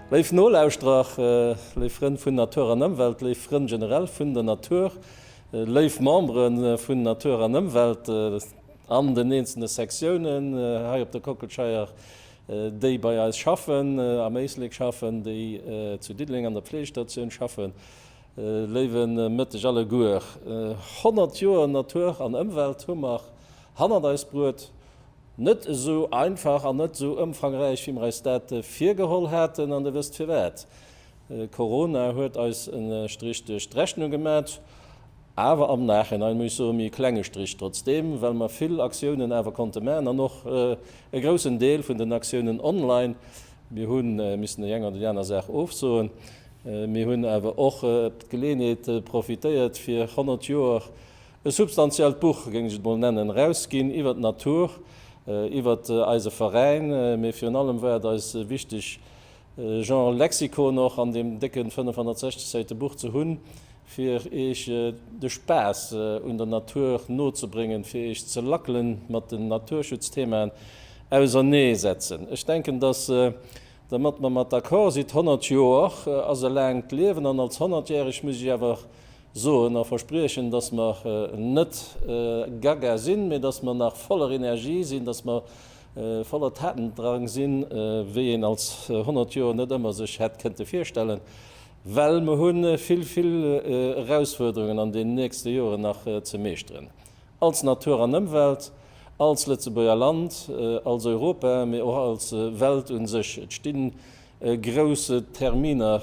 Léif Nolauschterer, léif Frënn vun Natur an Ëmwelt, léif Frënn generell vun der Natur, léif Membere vun Natur an Ëmwelt an den eenzelne Sektiounen hei op der Kockelscheier, déi bei eis schaffen, am Éislek schaffen, déi zu Diddeleng an der Pflegestatioun schaffen, Léiwe Mëtteg alleguer! 100 Joer Natur an Ëmwelt hu mer hannert eis bruet. Net esou einfach an net esou ëmfangräich wéi mer eis dat virgeholl haten. An Dir wësst firwat? Corona huet eis e Strich duerch d'Rechnung gemat, awer am Nachhinein muss ech soen, ee klenge Strich trotzdeem, well mer vill Aktiounen awer konnte maachen an och e groussen Deel vun den Aktiounen online. Mir hu missen déi eng oder déi aner Saach ofsoen, Mir hunn awer och d'Geleeënheet profitéiert fir 100 Joer e substantiellt Buch, géing ech et mol nennen, erausginn iwwert d'Natur, iwwert eise Veräin, mee virun allem war et eis wichteg e Genre Lexikon och an deem décken 560 Säite Buch ze hunn, fir Iech de Spaass un der Natur nozebréngen, fir Iech ze lackelen, mat den Naturschutzthemaen auserneesetzen. Ech denken, dass Domat mer mat d'accord sinn, d'honnert Joer ass e laangt Liewen, an als Honnertjähreg muss ech awer soen a verspriechen, dass mer net gaga sinn, mee dass mer nach voller Energie sinn, dass mer voller Tatendrang sinn, wéi een als honnert Joer net ëmmer sech hätt kënnte virstellen, well mer hu vill, vill Erausfuerderungen an den nächste Joren nach ze meeschteren. Als Natur an Ëmwelt, als Lëtzebuerger Land, als Europa, mee och als Welt un sech. Et sti grouss Terminer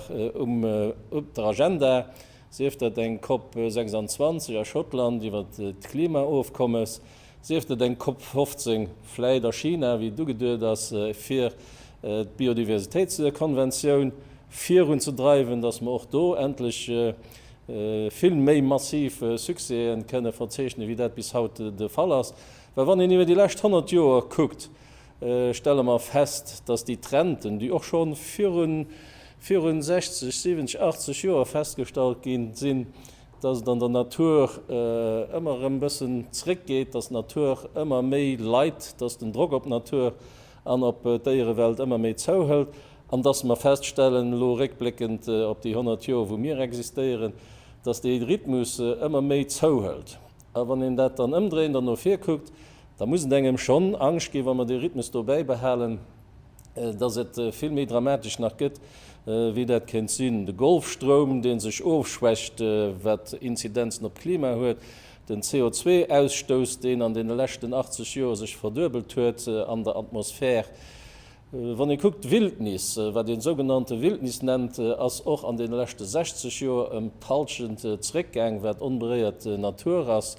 op der Agenda, sief dat eng Cop 26 a Schottland iwwer d'Klimaofkommes, sief dat eng Cop 15, vläit a China, wéi et ugeduet ass, fir d'Biodiversitéitskonventioun virunzedreiwen, datt mer och do endlech vill méi massiv Succèsen kënne verzeechnen, wéi dat bis haut de Fall ass. Well wann een iwwer déi lescht 100 Joer kuckt, stelle mer fest, dass déi Trenten, déi och scho virun virun 60, 70, 80 Joer festgestallt gi sinn, dass et an der Natur ëmmer erëm bëssen zréckgeet, dass d'Natur ëmmer méi leit, dass den Drock op d'Natur an ob d'Déierewelt ëmmer méi zouhëlt an dass mer feststellen, elo réckbléckend op déi 100 Joer wou mir existéieren, dass dee Rhythmus ëmmer méi zouhëlt. A wann een dat dann ëmdréint an no vir kuckt, da muss et engem schonn Angscht ginn, wa mer dee Rhythmus do bäibehalen, dass et vill méi dramatesch nach gëtt wéi dat kéint sinn. De Golfstroum dee sech ofschwächt, wat Inzidenzen op d'Klima huet, Den CO2-Ausstouss, deen an deene leschten 80 Joer sech verduebelt huet an der Atmosphär. Wann ee kuckt, d'Wildnis, wat een sougenannte Wildnis nennt, ass och an deene leschte 60 Joer ëm d'Hallschent zeréckgaang, wat onberéiert Natur ass.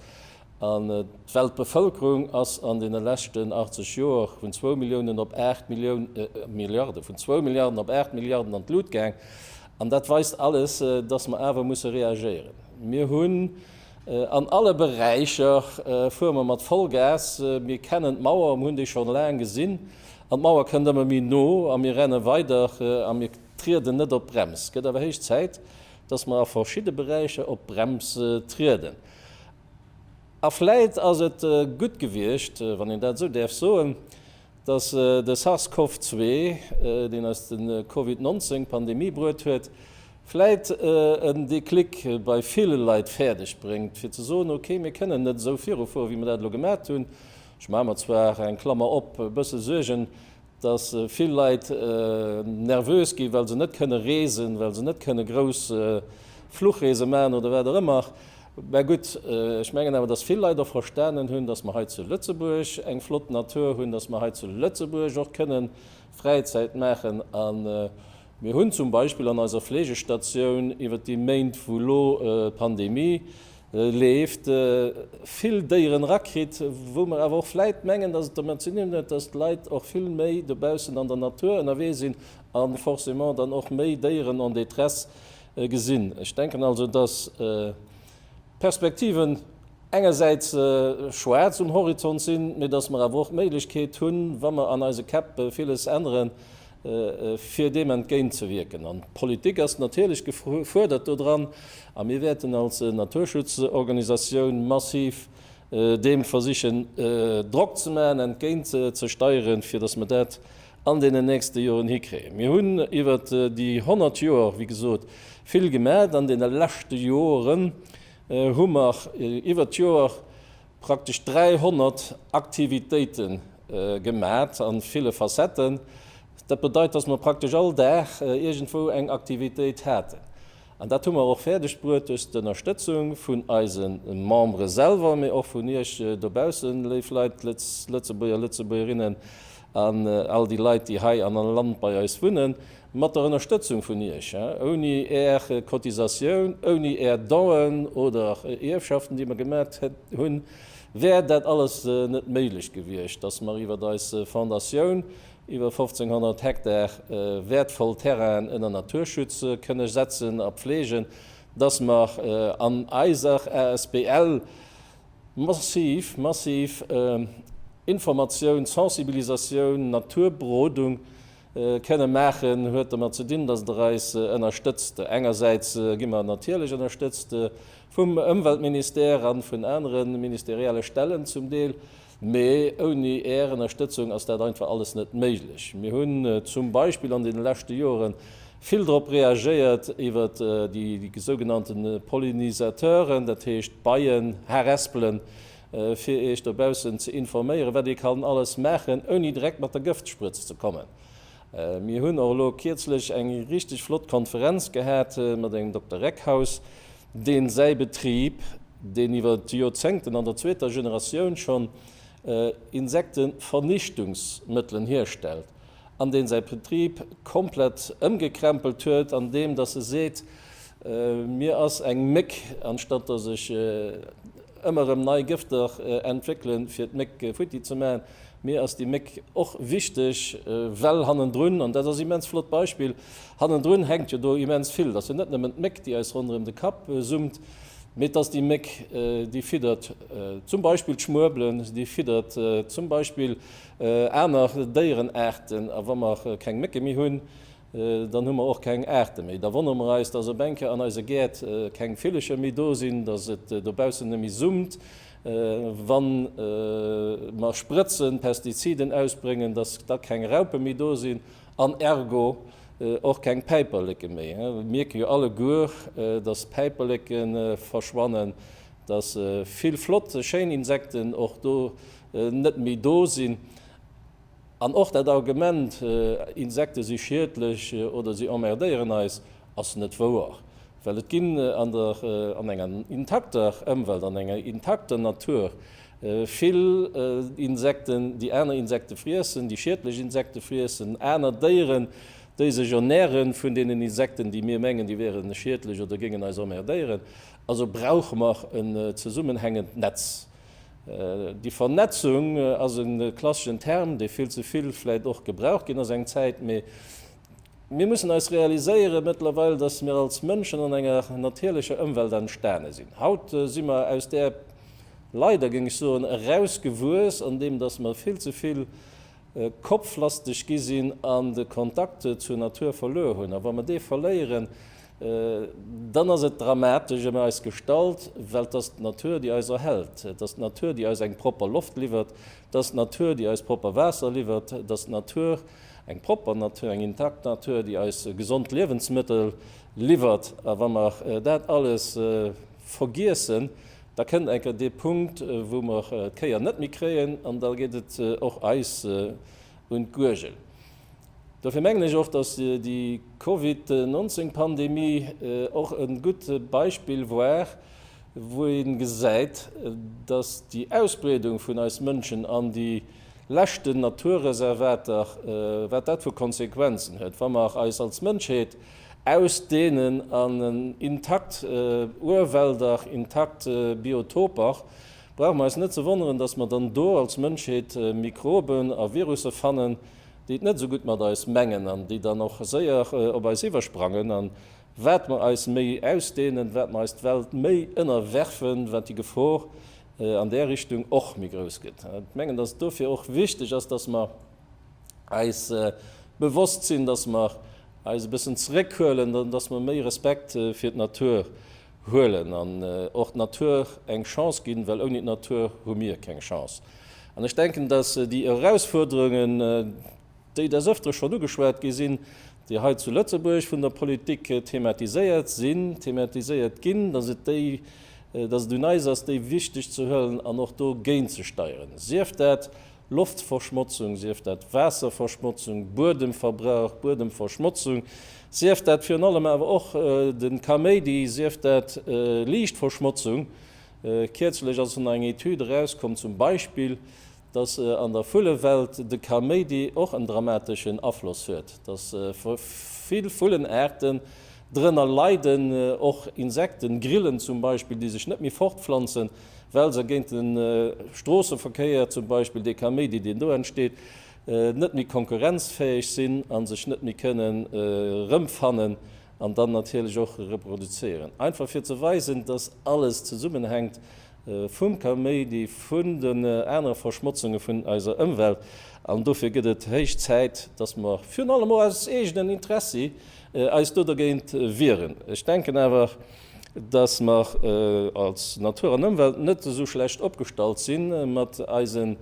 An d'Weltbevëlkerung ass an deene leschten 80 Joer vun zwou Milliounen op aacht Millioun, Milliarden, vun zwou Milliarden op aacht Milliarden an d'Lut gaang. An dat weist alles, dass mer awer musse reagéieren. Mir hunn. An alle Beräicher fuere mer mat Vollgas. Mir kennen d'Mauer a mir hunn déi scho laang gesinn. An d'Mauer kënnt ëmmer méi no a mir renne weider a mir trieden net op d'Brems. Et gëtt awer héich Zäit, dass mer a verschidde Beräicher op d'Brems trieden. A vläit ass et gutt gewiescht, wann een dat esou däerf soen, Datt de SARS-CoV-zwee, deen eis de Covid 19 Pandemie bruet huet, vläit en Déclic bei ville Leit fäerdeg bréngt fir ze soen, ok, mir kënnen net esou viru fueren, wéi mir dat elo gemat hunn. Ech maache mer zwar, eng Klammer op, e bësse Suergen, datt vill Leit nervös gi well se net kënne reesen, well se net kënne grouss Fluchreese maachen oder wat och ëmmer. Mä gutt, ech mengen awer, dass vill Leit och verstanen hunn, dass mer hei zu Lëtzebuerg eng flott Natur hunn, dass mer hei zu Lëtzebuerg och kënnen Fräizäit maachen. A mir hunn zum Beispill an eiser Fleegestatioun iwwert déi Méint, wou elo d'Pandemie leeft, vill Déieren erakritt, wou mer awer och vläit mengen, dass et dermat ze dinn huet, dass d'Leit och vill méi dobaussen an der Natur ënnerwee sinn a forcément dann och méi Déieren en détresse Gesinn. Ech denken also, dass d'Perspektiven engersäits schwaarz um Horizont sinn, mee dass mer awer och d'Méiglechkeet hunn, wa mer an eise Käpp villes änneren, fir deem entgéintzewierken. An d'Politik ass natierlech gefuerdert dodran. A mir wäerten als Naturschutzorganisatioun massiv deem versichen Drock ze maachen, entgéintzesteieren, fir dass mer dat an deenen nächste Joren hikréien. Mir hunn iwwer déi 100 Joer, wéi gesot, vill gemaat. An deene leschte Joren hu mer iwwer d'Joer praktesch 300 Aktivitéite gemaat a ville Facetten. Dat bedeit, dass mer praktesch all Dag iergendwou eng Aktivitéit haten. An dat hu mer och fäerdeg bruet duerch d'Ënnerstëtzung vun eise Membere selwer, mee och vun iech dobaussen, léif Leit, Lëtz, Lëtzebuerger, Lëtzebuergerinnen. An all déi Leit, déi hei an am Land bei eis wunnen, mat der Ënnerstëtzung vun Iech, ouni Är Cotisatioun, ouni Är Donen oder Ierfschaften, déi mer gemat hunn, wär dat alles net méiglech gewiescht, dass mer iwwer eis Fondatioun iwwer 1.500 Hektar wäertvoll Terrainen ënner Naturschutz kënne setzen a pflegen, dass mer an eiser asbl. Massiv, massiv Informatioun, Sensibilisatioun, Naturberodung kënne maachen, huet domat ze dinn, datt Der eis ënnerstëtzt. Engersäits gi mer natierlech ënnerstëtzt vum Ëmweltministère a vun anere ministerielle Stellen zum Deel. Mee ouni Är Ënnerstëtzung ass dat einfach alles net méiglech. Mir hunn zum Beispill an deene leschte Jore vill drop reagéiert iwwer déi sougenannte Pollinisateuren, dat heescht Beien, Harespelen, fir Iech dobaussen ze informéieren, wat ee kann alles maachen, ouni direkt mat der Gëftsprëtz ze kommen. Mir hunn och elo kierzlech eng richteg flott Konferenz gehat mat engem Dokter Reckhaus. dee säi Betrib, deen iwwer Joerzéngten an der zweeter Generatioun schonn Insektevernichtungsmëttelen hierstellt, an dee säi Betrib komplett ëmgekrämpelt huet, andeem datt e seet, Mir ass eng Méck, anstatt datt ech ëmmer erëm nei Gëfter entwéckele fir d'Méck futti ze maachen, mir ass déi Méck och wichteg, well hannendrun, an dat ass e immens flott Beispill, Hannendrun hänkt jo do immens vill. Et ass jo net nëmmen d'Méck, déi eis ronderëm de Kapp summt, mee et ass déi Méck, déi fiddert zum Beispill d'Schmuebelen, déi fiddert zum Beispill aner Déierenaarten. A wa mer keng Mécke méi hunn, dann hu mer och keng Aarte méi. Da wonnere mer eis, dass op eng Kéier an eise Gäert keng Villercher méi do sinn, dass et dobaussen net méi summt, wa mer sprëtzen, Pestiziden ausbréngen, dass da keng Raupe méi do sinn. an ergo och keng Päiperleke méi. Mir mierke jo alleguer, dass Päiperleke verschwannen, dass vill flott, schéin Insekten och do net méi do sinn. An och dat Argument, Insekte si schiedlech oder si emmerdéieren eis, ass net wouer, well et ginn an enger intakter Ëmwelt, an enger intakter Natur Vill Insekten, déi aner Insekte friessen, déi schiedlech Insekte friessen, aner Déieren, déi sech ernäre vun deenen Insekten, déi mir mengen, déi wiere schiedlech oder géingen eis emmerdéieren. Also brauche mer en zesummenhängend Netz. Déi Vernetzung ass e klasseschen Term, dee vill ze vill vläicht och gebraucht ginn ass eng Zäit, mee Mir mussen eis realiséieren mëttlerweil, dass mir als Mënschen an enger natierlecher Ëmwelt entstane sinn. Haut si mer aus där, leider géing ech soen, erausgewuess, andeem dass mer vill ze vill kopflasteg gi sinn an de Kontakt zur Natur verluer hunn. A wa mer dee verléieren, dann ass et dramatesch ëm eis gestallt, well et ass d'Natur, déi eis erhält, et ass d'Natur, déi eis eng propper Loft liwwert, et ass d'Natur, déi eis propper Waasser liwwert, et ass d'Natur, Eng propper Natur, eng intakt Natur, déi eis gesond Liewensmëttel liwwert. A wa mer dat alles vergiessen, da kënnt enker dee Punkt, wou mer d'Kéier net méi kréien, an da geet et och eis un d'Guergel. Dofir mengen ech och, dass déi Covid 19 Pandemie och e gutt Beispill war, wou ee gesäit, dass déi Ausbreedung vun eis Mënschen an déi. leschten Naturreservater, wat dat vu Konsequenzen huet, wa mer eis als Mënschheet aus deenen an intakt Urwälder, intakt Biotoper, brauche mer eis net ze wonneren, datt mer dann do als Mënschheet Mikroben a Virusse fannen, déi et net esou gutt mat eis mengen an déi dann och séier op eis iwwersprangen. A wat mer eis méi ausdehnen, wat mer eis d'Welt méi ënnerwerfen, wat déi Gefor an där Richtung och méi grouss gëtt. Ech mengen, dass et dofir och wichteg ass, dass mer eis bewosst sinn, dass mer eis e bëssen zeréckhuelen, dass mer méi Respekt fir d'Natur huelen an och d'Natur eng Chance ginn, well ouni d'Natur hu mir keng Chance. An ech denken, dass déi Erausfuerderungen, déi des Ëftere schonn ugeschwat gi sinn, déi hei zu Lëtzebuerg vun der Politik thematiséiert sinn, thematiséiert ginn, dass et déi, dass et un eis ass, déi wichteg ze huelen an och do géintzesteieren, sief dat Loftverschmotzung, sief dat Waasserverschmotzung, Buedemverbrauch, Buedemverschmotzung, sief dat virun allem awer och de Kaméidi, sief dat Liichtverschmotzung. Kierzlech ass nach eng Etüd erauskomm, zum Beispill, Dass an der Vullewelt de Kaméidi och en dramateschen Afloss huet, dass vill Vullenaarten drënner leiden, och Insekten, Grillen zum Beispill, déi sech net méi fortpflanzen, well se géint de Stroosseverkéier zum Beispill, dee Kaméidi, deen do entsteet, net méi konkurrenzfäeg sinn a sech net méi kënnen erëmfannen an dann natierlech och reproduzéieren. Einfach fir ze weisen, dass alles zesummenhänkt vum Kaméidi, vun den anere Verschmotzunge vun eiser Ëmwelt, an dofir gëtt et héich Zäit, dass mer virun allem och aus eegenen Interessi eis do dergéint wieren. Ech denken awer, dass mer als Natur an Ëmwelt net esou schlecht opgestallt si mat eisen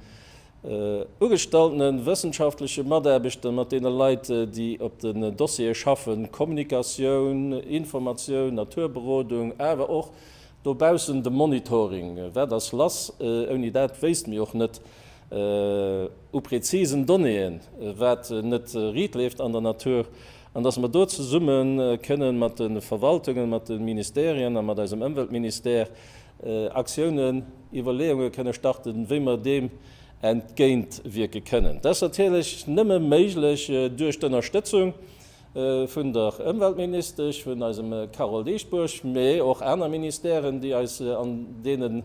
ugestaltenen wëssenschaftleche Mataarbechter, mat deene Leit, déi op den Dossiere schaffen, Kommunikatioun, Informatioun, Naturberodung, awer och Dobaussen de Monitoring, wat ass lass? Ouni dat wéisst mir och net u präzisen Donnéeën, wat net riit leeft an der Natur. An dass mer do zesumme kënnen mat de Verwaltungen, mat de Ministèrien a mat eisem Ëmweltministère Aktiounen, Iwwerleeunge kënne starten, wéi mer deem entgéintwierke kënnen. Dat ass natierlech nëmme méiglech duerch d'Ënnerstëtzung vun der Ëmweltministesch, vun eisem Carole Dieschbourg, mee och aner Ministèren, déi eis an deene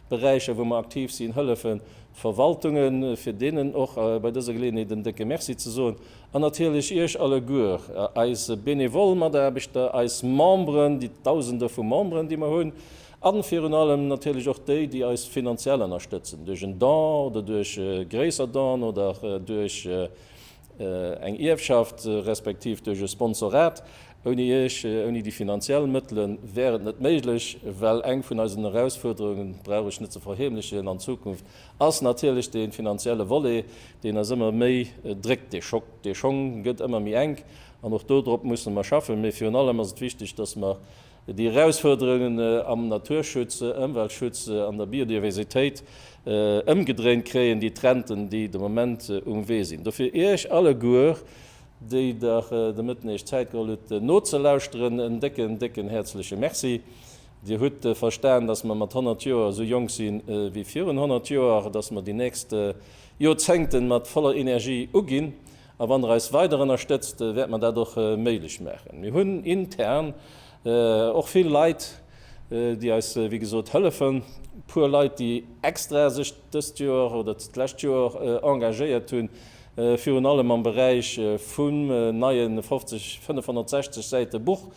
Beräicher, wou mer aktiv sinn, hëllefen, d'Verwaltungen, fir deenen och bei dëser Geleeënheet en décke Merci ze soen, an natierlech Iech alleguer, eis benevol Mataarbechter, eis Memberen, déi Dausende vu Memberen, déi mer hunn, a virun allem natierlech och déi, déi eis finanziell ënnerstëtzen, duerch en Don oder duerch gréisser Donen oder duerch, eng Ierfschaft, respektiv duerch e Sponsorat. Ouni Iech, ouni déi finanziell Mëttele wär et net méiglech, well eng vun eisen Erausfuerderungen, dat brauch ech net ze verheemlechen, an Zukunft ass natierlech dee finanzielle Volet, deen eis ëmmer méi dréckt. Dee Schock, dee Schong gëtt ëmmer méi enk an och do drop mussen mer schaffen. Mee virun allem ass et wichteg, dass mer Déi Erausfuerderungen am Naturschutz, Ëmweltschutz an der Biodiversitéit ëmgedréint kréien, déi Trenten, déi de Moment um Wee sinn. Dofir Iech alleguer, déi Der de Mëtten Iech Zäit geholl hutt nozelauschteren, en décken, décken häerzleche Merci. Dir hutt verstan, dass mer mat 100 Joer esou jonk si wéi virun 100 Joer, dass mer déi nächst Jorzéngten mat voller Energie uginn A wann Der eis weider ënnerstëtzt, wäerte mer dat och méiglech maachen. Mir hunn intern och vill Leit, déi eis, wéi gesot, hëllefen. Puer Leit, déi extra sech dëst Joer oder d'lescht Joer engagéiert hunn, virun allem am Beräich vum neie 560 Säite Buch,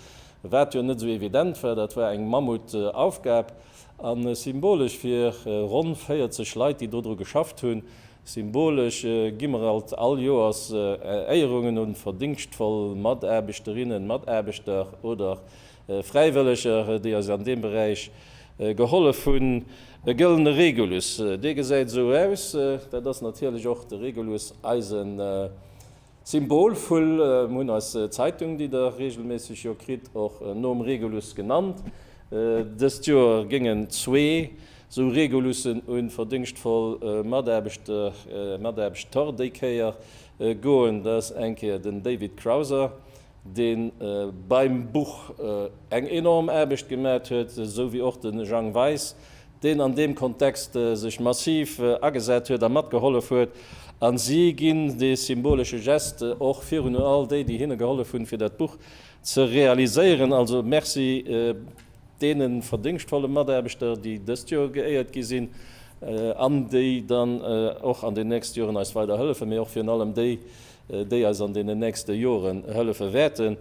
wat jo net esou evident war. Dat war eng Mammutaufgab. A symbolesch fir ronn 40 Leit, déi dodru geschafft hunn, Symbolesch gi mer alt all Joers Éierungen un verdéngschtvoll Mataarbechterinnen, Mataarbechter oder Fräiwëlleger, déi eis an deem Beräich gehollef hunn. E gëllene Regulus, dee gesäit esou aus, dat ass natierlech och de Regulus, eisen Symbolvull hunn eis Zeitung, déi der regelméisseg jo kritt, och nom Regulus genannt. Dëst Joer géingen zwee sou Regulussen u verdéngschtvoll Mataarbechter, Mataarbechtor déi Kéier goen. Dat ass eng Kéier den David Crowser, dee beim Buch eng enorm Aarbecht gemat huet, sou wéi och de Jang Weis, deen an deem Kontext sech massiv agesat huet a matgehollef huet. A si ginn dee symbolesche Geste och virun u all déi, déi hinne gehollef hunn, fir dat Buch ze realiséieren. Also Merci deene verdéngschtvolle Mataarbechter, déi dëst Joer geéiert gi sinn an déi dann och an den nächste Joren eis weider hëllefen, mee och virun allem déi, déi eis an deenen nächste Joren hëllefe wäerten.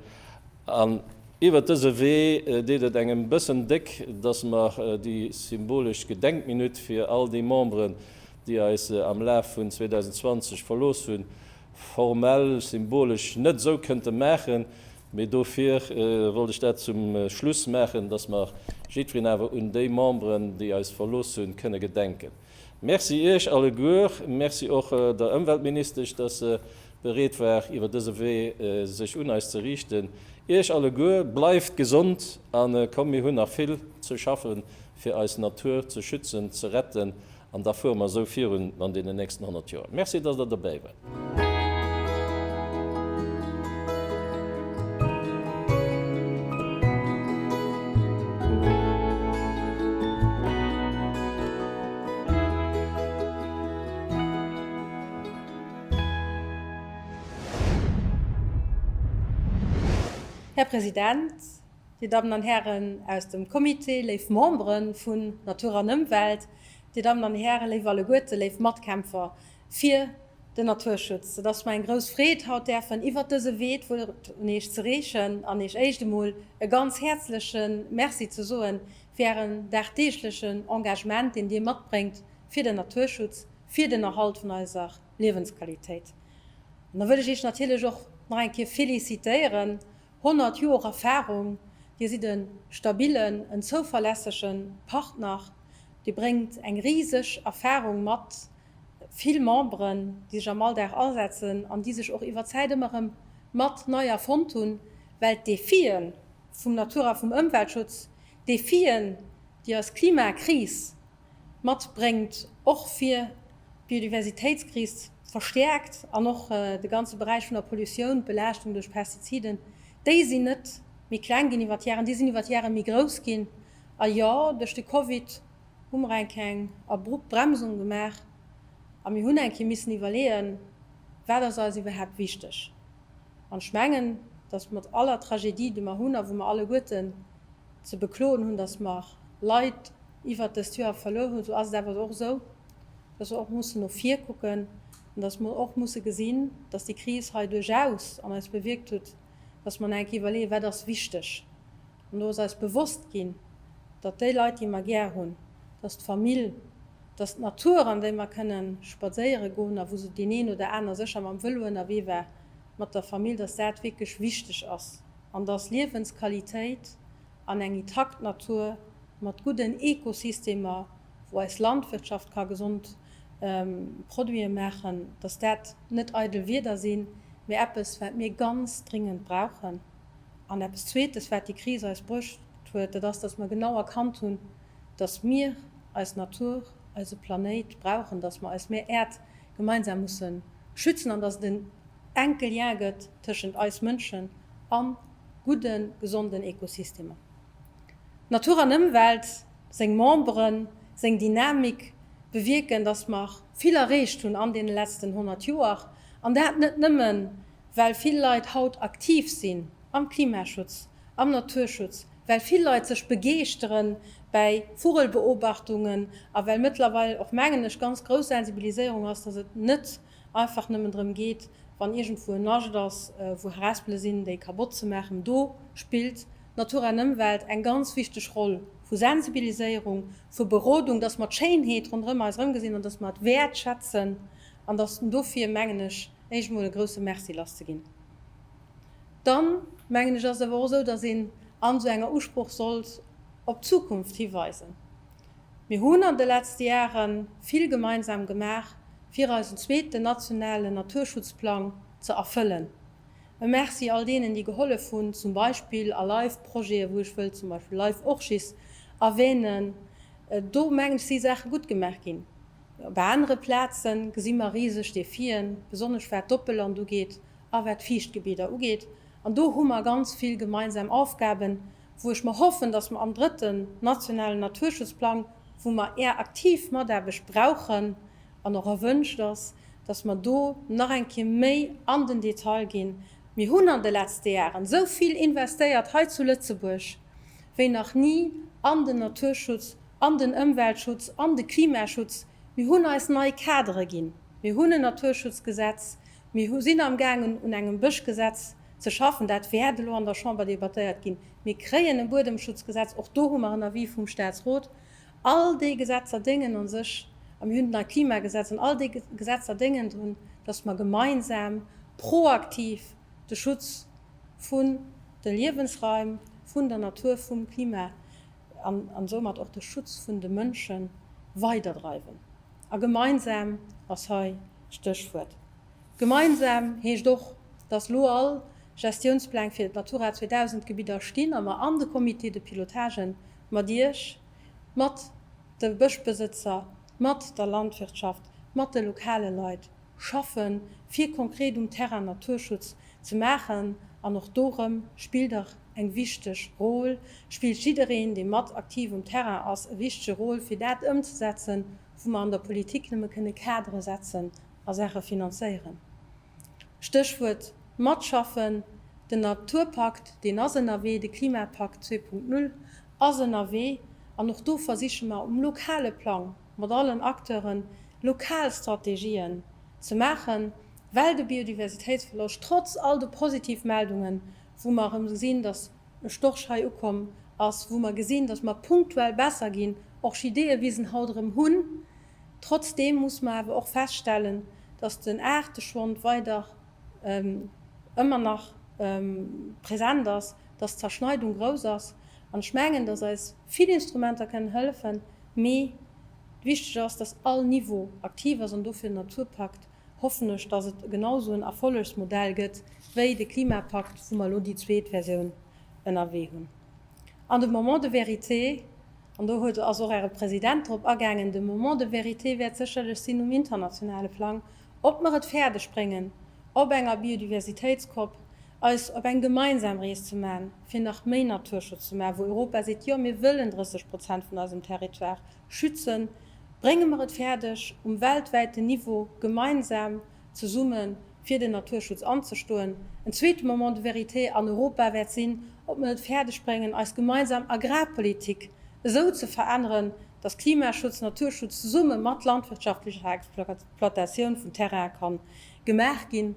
An iwwert dëse Wee deet et engem bëssen déck, dass mer déi symbolesch Gedenkminutt fir all déi Memberen, déi eis am Laf vun 2020 verlooss hunn, formell, symbolesch net esou kënnte maachen, mee dofir wollt ech dat zum Schluss maachen, dass mer jiddwereen awer un déi Memberen, déi eis verlooss hunn, kënne gedenken. Merci Iech alleguer. Merci och der Ëmweltministesch, dass se bereet war, iwwer dëse Wee sech un eis ze riichten. Iech alleguer, bleift gesond a komm, mir hunn nach vill ze schaffe fir eis Natur ze schützen, ze retten an da fuere mer esou virun an deenen nächsten 100 Joer. Merci, dass Der dobäi waart. Här President, Dir Dammen an Hären aus dem Comité, léif Membere vun Natur an Ëmwelt, Dir Dammen an Hären, léif alleguerte, léif Matkämpfer, fir den Naturschutz. Et ass mer eng grouss Freed, haut däerfen iwwert dëse Wee d'Wuert un Iech ze reechen an Iech éischt emol e ganz häerzleche Merci ze soen fir Ären dagdeeglechen Engagement, deen Dir matbréngt fir den Naturschutz, fir den Erhalt vun eiser Liewensqualitéit. An da wëll ech Iech natierlech och nach eng Kéier félicitéieren. 100 Joer Erfarung, Dir sidd e stabillen, en zouverlässege Partner, Dir bréngt eng riseg Erfarung mat vill Memberen, déi sech am Alldag asetzen an déi sech och iwwer d'Zäit ëmmer erëm mat nei erfonnt hunn, well d'Defie vum Natur a vum Ëmweltschutz, d'Defien, déi eis Klimakris matbréngt, och fir d'Biodiversitéitskris verstäerkt an och de ganze Beräich vun der Pollutioun, d'Belaaschtung duerch Pestiziden, déi sinn net méi kleng ginn iwwer d'Jaren, déi sinn iwwer d'Jare méi grouss ginn. A jo, duerch de Covid. hu mer enk eng abrupt Bremsung gemaach a mir hunn eng Kéier missen iwwerleeën, Wat ass eis iwwerhaapt wichteg? An ech mengen, datt mat aller Tragedie, déi mer hunn a wou mer alleguerten ze bekloen hunn, datt mer Leit iwwert dëst Joer verluer hunn, esou ass et awer och esou, datt mer och mussen no vir kucken an datt mer och musse gesinn, datt déi Kris hei duerchaus an eis bewierkt huet, datt mer eng Kéier iwwerleeën, Wat ass wichteg? An do ass eis bewosst ginn, datt déi Leit, déi mer gär hunn, datt d'Famill, datt d'Natur, an déi mer kënne spadséiere goen a wou se deen een oder aner sécher mam Vëlo ënnerwee war mat der Famill, datt dat wierklech wichteg ass an datt Liewensqualitéit an eng intakt Natur mat gudden Ekosystemer, wou eis Landwirtschaft ka gesond Produite maachen, datt dat net eidel Wieder sinn, mee eppes, wat mir ganz dringend brauchen. An eppes Zweetes, wat déi Kris eis bruecht huet, dat ass, dass mer genau erkannt hunn, dass mir eis Natur, eise Planéit brauchen, dass mer eis Mär Äerd gemeinsam musse schützen an dass et en enke Lien gëtt tëschent eis Mënschen a gudde gesonden Ekosystemer. Natur an Ëmwelt, seng Memberen, seng Dynamik bewierken, dass mer vill erreecht hunn an deene letzten 100 Joer, an dat net nëmmen well vill Leit haut aktiv sinn am Klimaschutz, am Naturschutz, well vill Leit sech begeeschteren bäi Vugelbeobachtungen a well mëttlerweil och, mengen ech, ganz grouss Sensibiliséierung ass, dass et net einfach nëmmen drëm geet, wann iergendwou en Nascht ass, wou Harespele sinn, déi kabott ze maachen. Do spillt Natur an Ëmwelt eng ganz wichteg Roll vu Sensibiliséierung, vu Berodung, dass mer d'Schéinheet ronderëm eis erëmgesinn an dass mer et wäertschätzen an dass dofir, mengen ech, éischt mol e grousse Merci lasszeginn. Dann, mengen ech, ass et awer och esou, dass een an esou enger Usproch sollt op d'Zukunft hiweisen. Mir hunn an de letzte Jahre vill gemeinsam gemaach, fir eisen zweeten nationalen Naturschutzplang ze erfëllen. E Merci all deenen, déi gehollef hunn, zum Beispill a LIFE-Projete, wou ech wëll zum Beispill LIFE-Orchis erwähnen. Do, mengen ech, si Saache gutt gemaach ginn. Op anere Plaze gesi mer riseg Defien, besonnesch wat d'Oppelland ugeet a wat d'Fiichtgebidder ugeet. An do hu mer ganz vill gemeinsam Aufgaben, wou ech mer hoffen, dass mer am drëtten nationalen Naturschutzplang, wou mer Är aktiv Mataarbecht brauchen an och erwünscht ass, dass mer do nach eng Kéier méi an den Detail ginn. Mir hunn an de letzte Jaren esou vill investéiert hei zu Lëtzebuerg. wéi nach ni an den Naturschutz, an den Ëmweltschutz, an de Klimaschutz. Mir hunn eis nei Kadere ginn. Mir hunn en Naturschutzgesetz. Mir sinn amgaangen un engem Bëschgesetz ze schaffen. Dat wäert elo an der Chamber debattéiert ginn. Mir kréien e Buedemschutzgesetz. Och do hu mer en Avis vum Statsrot. All déi Gesetzer déngen a sech, a mir hunn d'nei Klimagesetz, an all déi Gesetzer déngen drun, datt mer gemeinsam proaktiv de Schutz vun de Liewensraim, vun der Natur, vum Klima an soumat och de Schutz vun de Mënsche weiderdreiwen. A gemeinsam ass hei d'Stéchwuert. Gemeinsam heescht och, dass elo all Gestiounspläng fir d'Natura 2000 Gebidder stinn a mer an de Comités de pilotage mat Iech, mat de Bëschbesëtzer, mat der Landwirtschaft, mat de lokale Leit, schaffen, fir konkret um Terrain Naturschutz ze maachen. An och dorëm spill dach eng wichteg Rôle, spillt jiddereen, dee mat aktiv um Terrain ass, e wichtege Rôle, fir dat ëmzesetzen, wou mer an der Politik nëmme kënne Kadere setzen a Saache finanzéieren. Stéchwuert matschaffen, den Naturpakt, deen ass ënnerwee, de Klimapakt zwee Punkt null ass ënnerwee. An och do versiche mer um lokale Plang, mat allen Acteuren lokal Strategien ze maachen, well de Biodiversitéitsverloscht, trotz all de positiv Meldungen, wou mer erëm gesinn, dass e Storch hei ukomm ass, wou mer gesinn, dass mer punktuell besser ginn, Orchideeëwisen haut erëm hunn, trotzdeem muss mer awer och feststellen, dass den Aarteschwond weider ëmmer nach present ass, dass d'Zerschneidung grouss ass. An ech mengen, dass eis. Vill Instrumenter kënnen hëllefen, mee wichteg ass, dass all Niveau aktiv ass an dofir den Naturpakt, hoffen ech, dass et genau esou en Erfollegsmodell gëtt wéi de Klimapakt, wou mer elo déi zweet Versioun ënnerwee hunn. An de Moment de vérité, an do huet, ass och Äre President drop agaangen, de Moment de vérité wäert sécherlech sinn um internationale Plang, ob mer et fäerdegbréngen op enger Biodiversitéitskopp eis op eng gemeinsam Rees ze man, fir nach méi Naturschutz ze man, wou Europa seet, jo mir wëllen 30 Prozent vun eisem Territoire schützen, brénge mer et fäerdeg um weltwäiten Niveau gemeinsam zesumme fir den Naturschutz anzestoen. En zweete Moment de vérité an Europa wäert sinn, ob mer et fäerdeg bréngen eis gemeinsam Agrarpolitik esou ze veränneren, dass Klimaschutz, Naturschutz zesumme mat landwirtschaftlecher Exploitatioun vun Terrainen ka gemaach ginn.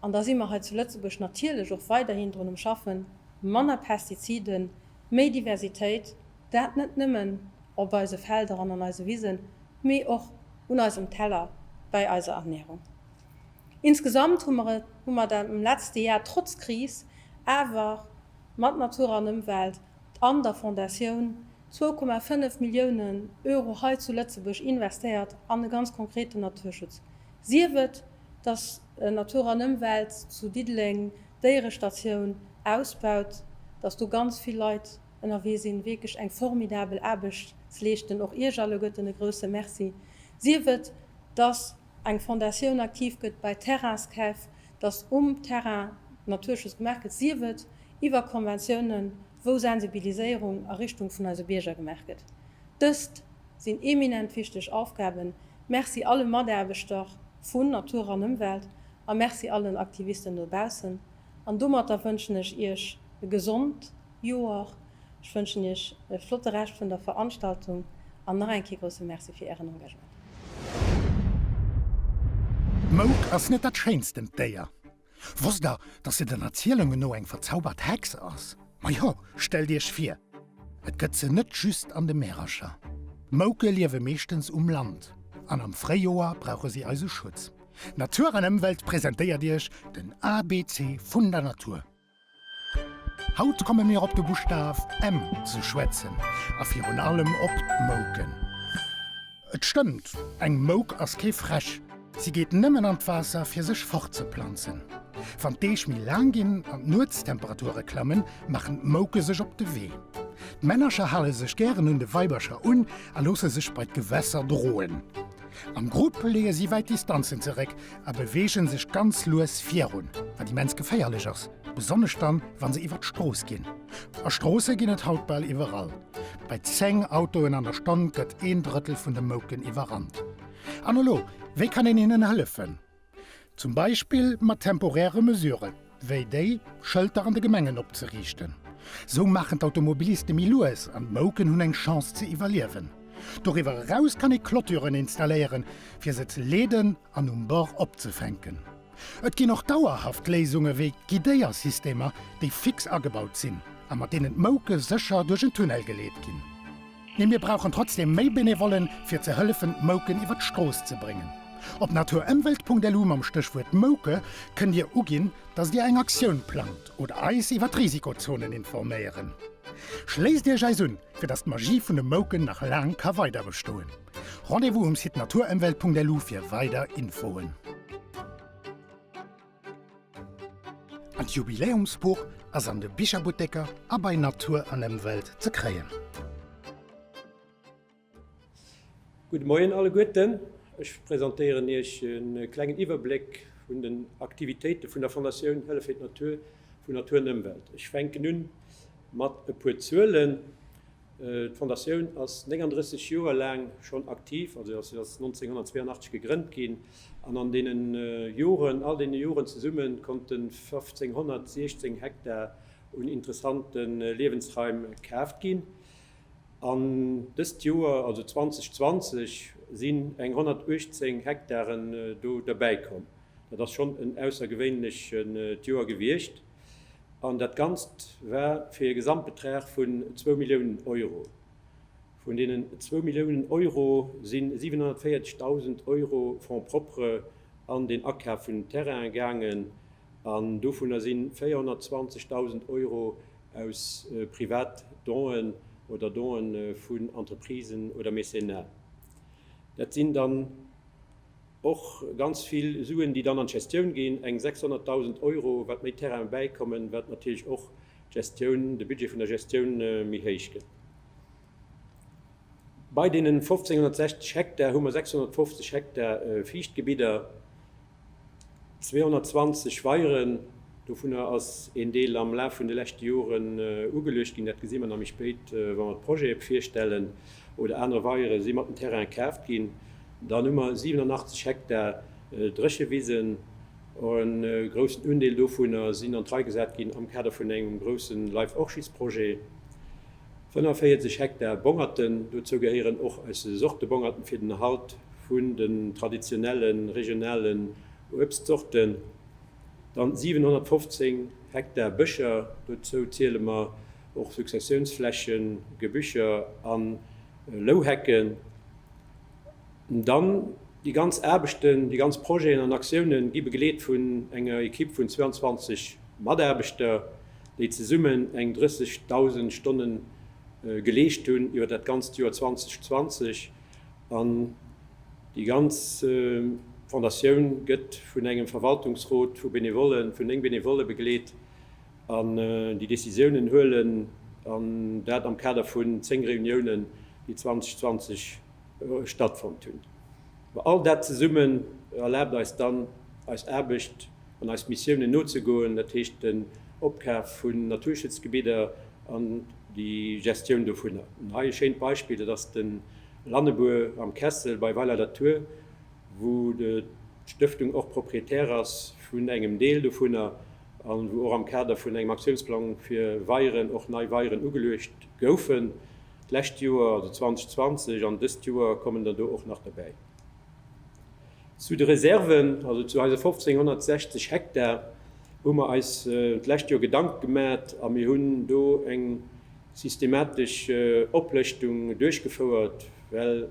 an da si mer hei zu Lëtzebuerg natierlech och weiderhin drun um Schaffen, manner Pestiziden, méi Diversitéit, dat net nëmmen op eise Felder an an eise Wisen, mee och un eisem Teller bäi eiser Ernährung. Insgesamt hu mer et hu mer et am letzte Jar trotz Kris awer mat Natur an Ëmwelt an der Fondatioun zwou Komma fënnef Milliounen Euro hei zu Lëtzebuerg investéiert an e ganz konkreten Naturschutz Sief et, dass Natur an Ëmwelt zu Diddeleng d'Déierestatioun ausbaut, dass do ganz vill Leit ënnerwee sinn, wierklech eng formidabel Aarbecht ze leeschten, och Iech alleguerten e grouse Merci. Sief et, dass eng Fondatioun aktiv gëtt bei Terrainskäf, dass um Terrain Naturschutz gemaach gëtt, sief et iwwer Konventiounen, wou Sensibiliséierung a Richtung vun eise Bierger gemaach gëtt. Dëst sinn eminent wichteg Aufgaben. Merci alle Mataarbechter vun Natur an Ëmwelt a Merci all den Aktivisten dobaussen. An domatter wënschen ech Iech e gesond Joer. Ech wënschen Iech e flotte Rescht vun der Veranstaltung an nach eng Kéier grousse Merci fir Ären Engagement. D'Mouk ass net dat schéinsten d'Déier. Wosst der, dass se den Erzielungen no eng verzaubert Hex ass? Majo, stellt iech vir, et gëtt se net just an de Märercher. Mouke liewe meeschtens um Land an am Fréijoer brauche si eise Schutz. Natur an Ëmwelt presentéiert iech den ABC vun der Natur. Haut komme mir op de Buschtaf M ze schwätzen a virun allem op d'Mouken. Et stëmmt, eng Mouk ass kee Fräsch. Si geet nëmmen an d'Waasser fir sech fortzeplanzen. Wann d'Deeg méi laang ginn an d'Nuetstemperature klammen, maachen d'Mouke sech op de Wee. D'Männercher hale sech gären un de Weibercher un a loosse sech bei d'Gewässer droen. Am Grupp leeë si wäit Distanzen zeréck a beweege sech ganz lues virun, wat immens geféierlech ass, besonnesch dann, wa se iwwer d'Strooss ginn. A Stroosse ginn et haut bal iwwerall. Bei 10 Autoen an der Stonn gëtt een Drëttel vun de Mouken iwwerrannt. An elo, wéi kann een hinnen hëllefen? Zum Beispill mat temporäre Mesuren, wéi déi Schëlter an de Gemengen opzeriichten. Esou maachen d'Automobiliste méi lues an d'Mouken hunn eng Chance ze iwwerliewen. Doriwwer eraus kann ee Clôturen installéieren, fir se ze leeden an um Bord opzefänken. Et ginn och dauerhaft Léisunge wéi Guidéiersystemer, déi fix agebaut sinn a mat deenen d'Mouke sécher duerch en Tunnel geleet ginn. Mee mir brauchen trotzdem méi Benevollen, fir ze hëllefen d'Mouken iwwer d'Strooss ze bréngen. Op naturëmwelt.lu mam Stéchwuert Mouke kënnt Dir uginn, dass Dir eng Aktioun plangt oder eis iwwer d'Risikozonen informéieren. Schléisst Iech eis un, fir dass d'Magie vun de Mouken nach laang ka weider bestoen. Rendez-vous um Site naturëmwelt.lu fir weider Infoen. D'Jubiläumsbuch ass an de Bicherbutteker a bei Natur an Emwelt ze kréien. Gudde Moien alleguerten. Ech presentéieren Iech e klengen Iwwerbléck vun den Aktivitéite vun der Fondatioun Hëllef fir d'Natur vu Natur an Ëmwelt. Ech fänken un mat e puer Zuelen. D'Fondatioun ass 39 Joer laang schonn aktiv, also ass 1982 gegrënnt ginn, an an deene Joren, all deene Joren zesumme konnte 1.516 Hektar un interessante Liewensraim kaaft ginn. An dëst Joer, also 2020, sinn eng 118 Hektaren do derbäikomm. Dat ass schonn en aussergewéinlecht Joer gewiescht. an dat Ganzt war fir e Gesamtbetrag vun zwou Milliounen Euro. Vun deenen zwou Milliounen Euro si 740.000 Euro Fonds propres an den Akaf vun Terrainen gaangen an dovunner si 420.000 Euro aus privat Donen oder Donen vun Entreprisen oder Mécénat. Dat sinn dann. Och ganz vill Suen, déi dann an d'Gestioun ginn, eng 600.000 Euro, wat méi Terraine bäikommen, wat natierlech och d'Gestioun, de Budget vun der Gestioun méi héich gëtt. Bei deenen 1.560 Hektar hu mer 650 Hektar Fiichtgebidder, 220 Weieren, dovunner ass een Deel am Laf vun de leschte Joren ugeluecht ginn, dat gesi mer nach méi spéit, wa mer d'Projete virstellen, oder aner Weiere si mat dem Terrain kaaft ginn. Dann hu mer 87 Hektar Dréchewisen. E groussen Undeel dovunner sinn an d'Rei gesat ginn am Kader vun engem grousse Life Orchids Projet. 45 Hektar Bongerten, dozou gehéieren och eis Sortebongerten fir den Erhalt vun den traditionelle regionalen Uebstzorten. Dann 715 Hektar Bëscher, dozou ziele mer och Successiounsflächen, Gebüscher a Louhecken. Dann, déi ganz Aarbechten, déi ganz Projeten an Aktiounen gi begleet vun enger Ekipp vun 22 Mataarbechter, déi zesummen eng 30.000 Stonne geleescht hunn iwwer dat ganzt Joer 2020. An déi ganz Fondatioun gëtt vun engem Verwaltungsrot vu Benevollen, vun néng Benevolle begleet, An déi Décisiounen huelen, an dat am Kader vun 10 Reuniounen, déi 2020 stattfonnt hunn. Ma all dat zesummen erlaabt eis dann, eis Aarbecht an eis Missiounen nozegoen, dat heescht den Opkaf vun Naturschutzgebidder an déi Gestioun dovunner. An hei e schéint Beispill, dat ass de Lannebuer am Kessel bei Weiler-la-Tour, wou d'Stëftung och Propriétaire ass vun engem Deel dovunner. a wou och am Kader vun engem Aktiounsplang fir Weieren och nei Weieren ugeluecht goufen d'lescht Joer, also 2020, an dëst Joer kommen der do och nach dobäi. Zu de Reserven, also zu eise 1.560 Hektar, hu mer eis d'lescht Joer Gedanke gemat a mir hunn do eng systematesch Oplëschtung duerchgefouert, well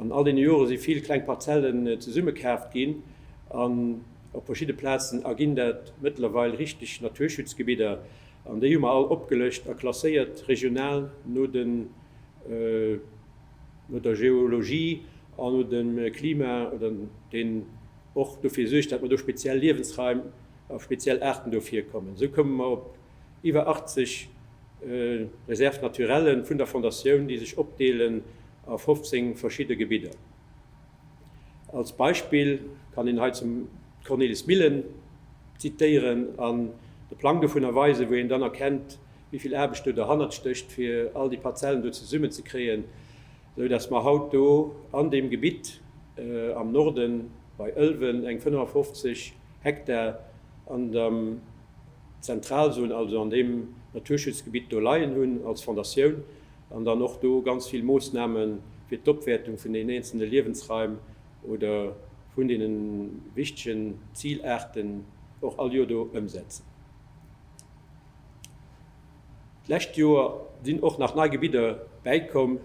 An all deene Jore si vill kleng Parzellen zesummekaaft ginn an op verschidde Plazen erginn dat mëttlerweil richteg Naturschutzgebidder. An déi hu mer all opgelëscht a klasséiert regional no den, no der Geologie an no dem Klima, oder deen och dofir suergt, dat mer do speziell Liewensraim a speziell Aarten do virkommen. Esou koume mer op Iwwer 80 Réserves naturelles vun der Fondatioun, déi sech opdeelen a 15 verschidde Gebidder. Als Beispill kann een hei d'Cornelis Millen zitéieren an de Plang dovun erweisen, wou een dann erkennt, wéi vill Aarbecht do derhannert stécht, fir all déi Parzellen do zesummenzekréien, sou dass mer haut do an deem Gebitt am Norden bei Ëlwen eng 55 Hektar an der. Zentral soen, also an deem Naturschutzgebitt do leien hunn als Fondatioun, an dann och do ganz vill Moossname fir d'Opwäertung vun den eenzelne Liewensraim oder vun deene wichtegen Zilaarten och all Joer do ëmsetzen. D'lescht Joer sinn och nach nei Gebidder bäikomm,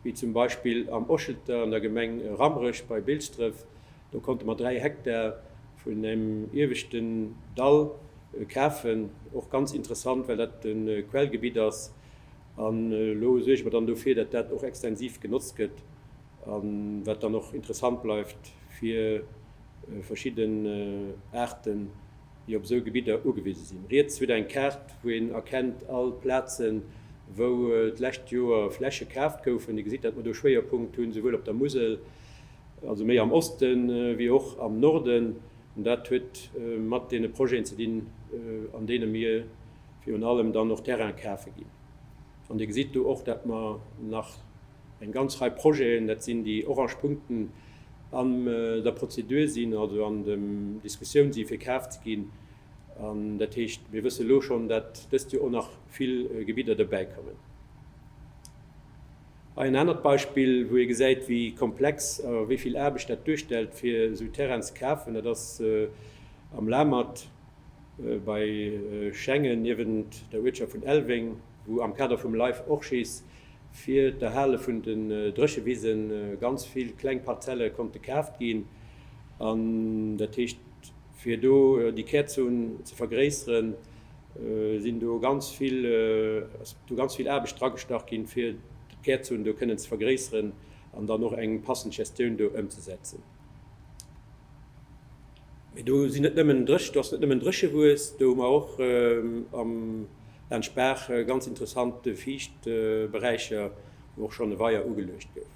wéi zum Beispill am Ochelter an der Gemeng Rammerech bei Bilsdref, Do konnte mer 3 Hektar vun engem ieweschten Dall kafen. Och ganz interessant, well dat e Quellgebitt ass. An elo suerge mer dann dofir, datt dat och extensiv genotzt gëtt a wat dann och interessant bleift fir verschidden Aarten, déi op esou Gebidder ugewise sinn. Riets hutt Der eng Kaart, wou een erkennt all d'Plazen, wou d'lescht Joer Fläche kaaft goufen. Dir gesitt, datt mer do Schwéierpunkt hunn, souwuel op der Musel also méi am Oste wéi och am Norden, an dat huet mat deene Projeten ze dinn, an deene mir virun allem dann och Terraine kafe ginn. An Dir gesitt do och, datt mer nach eng ganz Rei Projeten, dat sinn déi orange Punkten, an der Prozedur sinn, also an der Diskussioun si fir kaf ze ginn. An dat heescht, mir wësse lo schonn, datt dëst Joer och nach vill Gebidder dobäikommen. Hei en anert Beispill, wou ee gesäit, wéi komplex a wéi vill Aarbecht dat duerstellt, fir esou Terrainen ze kafen. Dat ass am Lamert bei Schengen niewent der Uertschaft vun Elveng, wou am Kader vum Life Orchies fir d'Erhale vun den Dréchewise ganz vill kleng Parzelle konnte kaaft ginn. An dat heescht. Fir do déi Kärzon ze vergréisseren, sinn do ganz vill, ass do ganz vill Aarbecht dragestach ginn, fir d'Kärzon do kënnen ze vergréisseren an dann och eng passend Gestioun do ëmzesetzen. Mee do sinn net nëmmen Dréch, do ass net nëmmen Dréchewues, do hu mer och am, laanscht d'Baach ganz interessant Fiichtberäicher, wou och schonn e Weier ugeluecht gouf.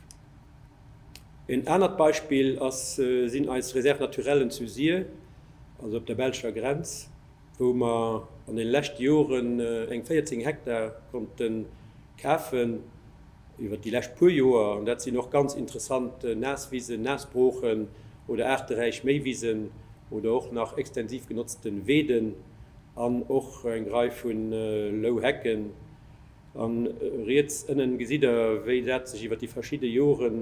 Een anert Beispill ass sinn eis Réserves naturellen zu Sir, also op der belscher Grenz, wou mer an deene leschte Joren eng 14 Hektar konnte kafen iwwert déi lescht puer Joer. An dat sinn och ganz interessant Naaswisen, Naasbroochen oder aarteräich Méiwisen oder och nach extensiv genotzte Weeden an och eng Rei vu Louhecken. An riets ënnen gesitt der wéi dat sech iwwert déi verschidde Joren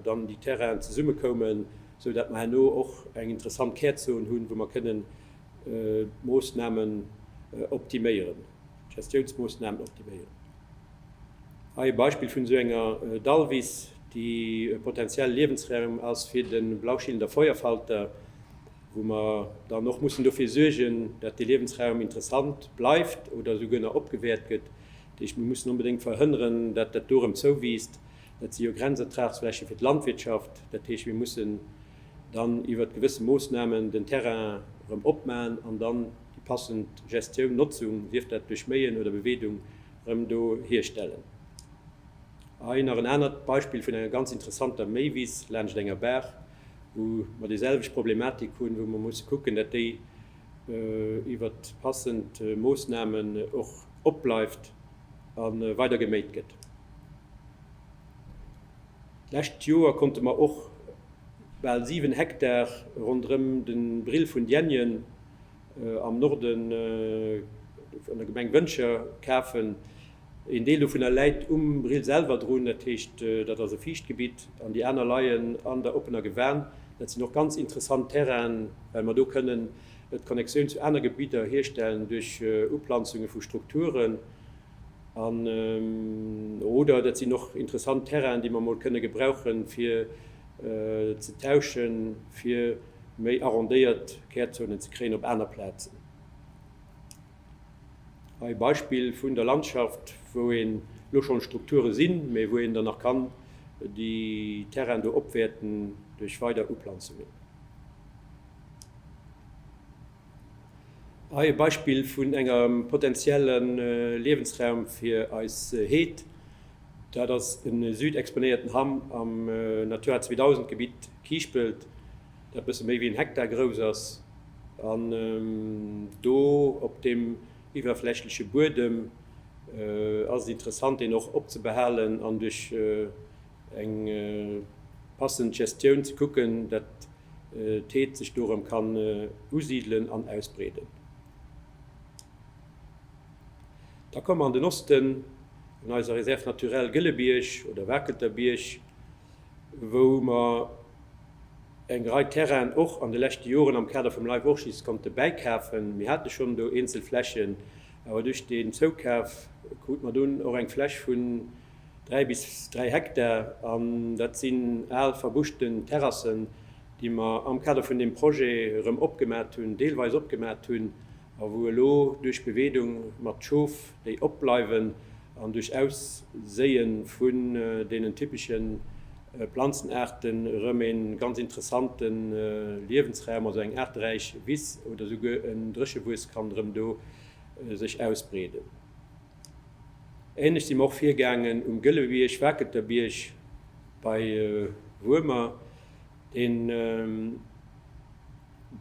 dann déi Terrainen zesumme koumen, sou dat mer herno och eng interessant Kärzon hunn, wou mer kënnen d'Moossnamen optiméieren, d'Gestiounsmoossnamen optiméieren. Hei e Beispill vun esou enger Dallwiss, déi e potentielle Liewensraum ass fir de Blauschillender Feuerfalter. wou mer dann och mussen dofir suergen, datt dee Liewensraum interessant bleift oder esouguer nach opgewäert gëtt. Dat heescht, mir mussen onbedéngt verhënneren, datt dat do erëm zouwiisst. Dat si jo Grenzertragsfläche fir d'Landwirtschaft. Dat heescht, mir mussen dann iwwert gewësse Moossnamen den Terrain erëm opmaen an dann déi passend Gestioun, Notzung, sief dat duerch Méien oder Beweedung, erëm do hierstellen. A hei nach en anert Beispill vun enger ganz interessanter Méiwiss laanscht enger Baach. wou mer déiselwecht Problematik hunn, wou mer musse kucken, dat déi iwwert passend Moosnamen och opbleift a weider geméit gëtt. D'lescht Joer konnte mer och bal 7 Hektar ronderëm de Brill vun Dienjen am Norden an der Gemeng Wëntger kafen, Een Deel dovunner läit um Brill selwer drun, dat heescht dat ass e Fiichtgebitt, an déi aner leien an der oppener Gewan. Dat sinn och ganz interessant Terrainen, well mer do kënnen d'Connexioun zu aner Gebidder hierstellen duerch Uplanzunge vu Strukturen. An oder dat sinn och interessant Terrainen, déi mer emol kënne gebrauchen, fir ze tauschen, fir méi arrondéiert Kärzonen ze kréien op aner Plazen. Hei e Beispill vun der Landschaft, wou een elo schonn Strukture sinn, mee wou een dann nach kann déi Terrainen do opwäerten duerch weider Uplanzungen. Hei e Beispill vun engem potentielle Liewensraum fir eis Heed. Dat ass e südexponéierten Ham am Natura 2000 Gebitt Kiischpelt. dat bësse méi wéi en Hektar grouss ass, an do op deem iwwerflächleche Buedem ass et interessant, deen och opzebehalen an duerch eng passend Gestioun ze kucken, dat d'Heed sech do erëm kann usidelen an ausbreeden. Da komme mer an den Osten, an eiser Réserve naturelle Gëllebierg oder Wakelter Bierg. wou mer eng Rei Terrainen och an de leschte Joren am Kader vum Life Orchis konnte bäikafen. Mir hate schonn do eenzel Flächen, awer duerch deen Zoukaf krute mer dunn och eng Fläch vun dräi bis dräi Hektar. An dat sinn al verbuschte Terrassen, déi mer am Kader vun deem Projet erëm opgemat hunn, deelweis opgemat hunn a wou elo duerch Beweedung mat Schof, déi opbleiwen an duerch Ausséie vun deenen typesche Planzenaarte rëm e ganz interessante Liewensraum, also eng aarteräich Wiss oder souguer en Dréchewues kann rëm do sech ausbreeden. Ähnlech si mer och virgaangen um Gëllebierg, Wakelter Bierg bei Wuermer, deen.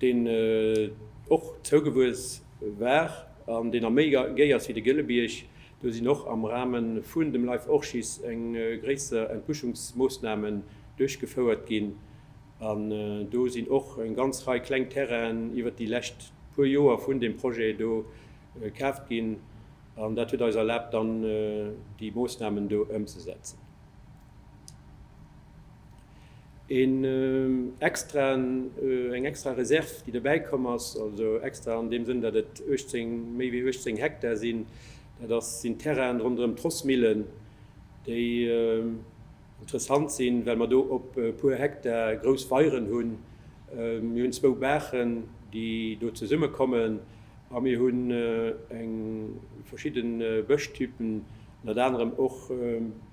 deen och zougewuess war an deen am méi géi ass wéi de Gëllebierg, do sinn och am Rahme vun dem Life Orchis eng gréisser Entbuschungsmoossnamen duerchgefouert ginn an do sinn och eng ganz Rei kleng Terrainen iwwert déi lescht puer Joer vun deem Projet do kaaft ginn an dat huet eis erlaabt dann déi Moossnamen do ëmzesetzen. Eng extra Reserv, déi dobäi komm ass, also extra an deem Sënn, datt et méi wéi 18 Hektar sinn, dat sinn d'Terrainen ronderëm d'Rossmillen, déi interessant sinn, well mer do op e puer Hektar grouss Weieren hunn. Mir hunn zwou Baachen, déi do zesummekommen a mir hunn verschidde Bëschtypen, ënnert anerem och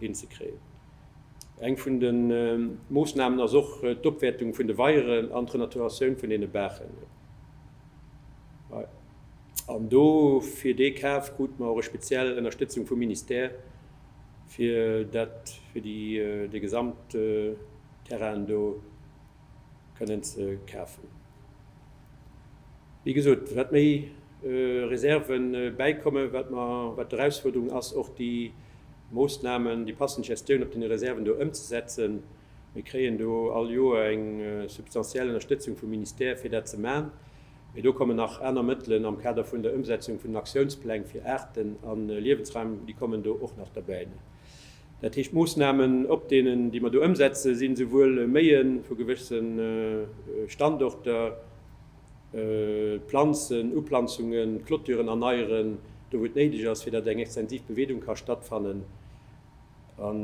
hinzekréien. Eng vun de Moossnamen ass och d'Opwäertung vun de Weieren an d'Renaturatioun vun deene Baachen. An do, fir dee Kaf krute mer och eng speziell Ënnerstëtzung vum Ministère, fir dat, fir dee gesamte Terrain do. kënnen ze kafen. Wéi gesot, wat méi Reserve bäikommen, wat mer, wat d'Erausfuerderung ass, och déi Moosnamen, déi passend Gestioun op deene Reserven do ëmzesetzen. Mir kréien do all Joer eng substantiell Ënnerstëtzung vum Ministère, fir dat ze maachen. Mee do kommen nach aner Mëttelen am Kader vun der Ëmsetzung vun den Aktiounspläng fir Aarten a Liewensraim, déi kommen do och nach derbäi. Dat heescht, d'Moossnamen op deenen, déi mer do ëmsetzen, sinn esouwuel Méie vu gewësse Standorter, planzen, Uplanzungen, d'Clôturen erneieren, do wou et néideg ass, fir datt eng extensiv Beweedung ka stattfannen. An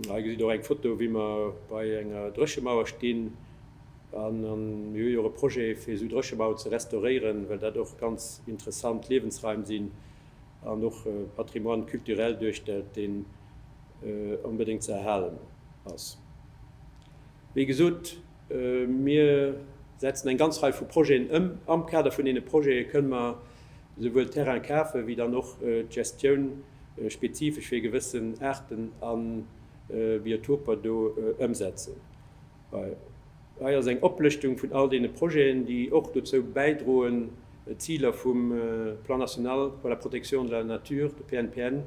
hei gesitt Der och eng Foto, wéi mer bei enger Dréchemauer stinn. A mir hu jo och e Projet, fir esou Dréchemaueren ze restauréieren, well dat och ganz interessant Liewensraim sinn. an och Patrimoine culturel duerstellt, deen onbedéngt ze erhalen ass. Wéi gesot, mir setzen eng ganz Rei vu Projeten ëm. Am Kader vun deene Projete kënnen mer esouwuel d'Terraine kafen, wéi dann och d'Gestioun spezifesch fir e gewëssen Aarten a Biotoper do ëmsetzen. Hei ass eng Oplëschtung vun all deene Projeten, déi och dozou bäidroen, d'Ziler vum Plan national pour la protection de la nature, de PNPN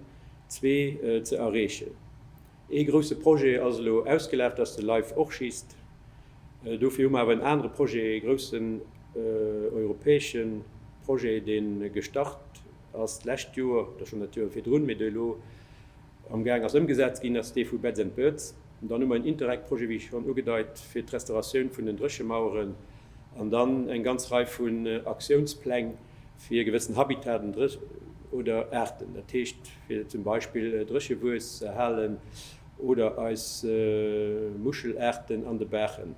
zwee, ze erreechen. Ee grousse Projet ass elo ausgelaf, dat ass de Life Orchist. Dofir hu mer awer en anere Projet, ee groussen europäesche Projet, dee gestart ass d'lescht Joer oder schonn dat Joer virdrun, mee dee elo Amgaang ass ëmgesetzt ginn, ass dee vu Beds and Birds. Dann hu mer en Interreg-Projet, wéi schonn ugedeit, fir d'Restauratioun vun den Dréchemaueren an dann eng ganz Rei vun Aktiounspläng fir e gewëssen Habitaten oder Aarten, dat heescht, fir zum Beispill Dréchewues ze erhalen oder eis Muschelaarten an de Baachen.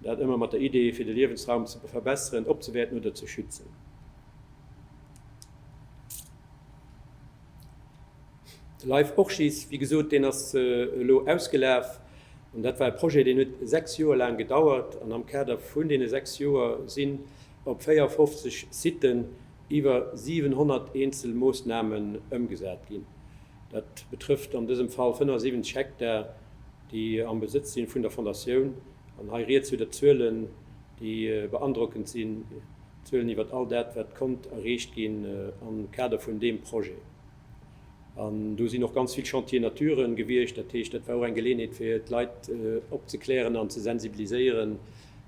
Dat ëmmer mat der Idee, fir de Liewensraum ze verbesseren, opzewäerten oder ze schützen. De Life Orchis, wéi gesot, deen ass elo ausgelaf. An dat war e Projet, deen huet sechs Joer laang gedauert. An am Kader vun deene sechs Joer sinn op 54 Sitten iwwer 700 eenzel Moossnamen ëmgesat ginn. Dat betrëfft an dësem Fall 75 Hektar, déi am Besëtz si vun der Fondatioun. An hei rieds jo der Zuelen, déi beandrockend sinn, Zuelen iwwert all dat, wat konnt erreecht ginn am Kader vun deem Projet. An do sinn och ganz vill Chantiers nature gewiescht. Dat heescht, dat war och eng Geleeënheet, fir d'Leit opzeklären an ze sensibiliséieren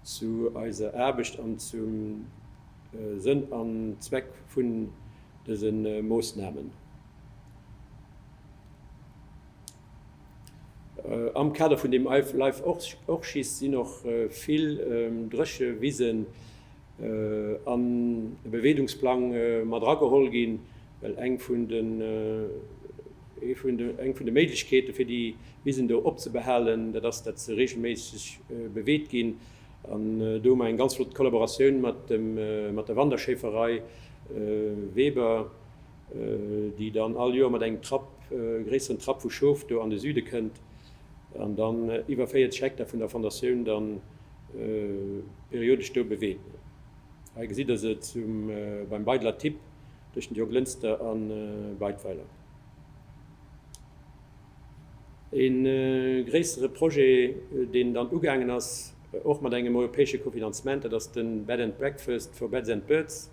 zu eiser Aarbecht an zum Sënn an Zweck vun dëse Moosnamen. Am Kader vun deem Life Orchis sinn och vill dréche Wisen an e Beweedungsplang mat erageholl ginn, well eng vun de eng vun de Méiglechkeete fir déi Wisen do opzebehalen, dat ass dat se reegelméisseg beweet ginn. An do hu mer eng ganz flott Kollaboratioun mat dem mat der Wanderschéiferei Weber, déi dann all Joer mat engem Trapp gréisseren Trapp vu Schof do an de Süde kënnt an dann iwwer 40 Hektar vun der Fondatioun dann periodesch do beweet. Hei gesitt der se zum beim Beidler Tipp tëschent Jo Glënster an Beidweiler. E gréissere Projet deen dann ugaangen ass, och mat engem europäesche Cofinancement, dat ass de Bed and Breakfast for Beds and Birds.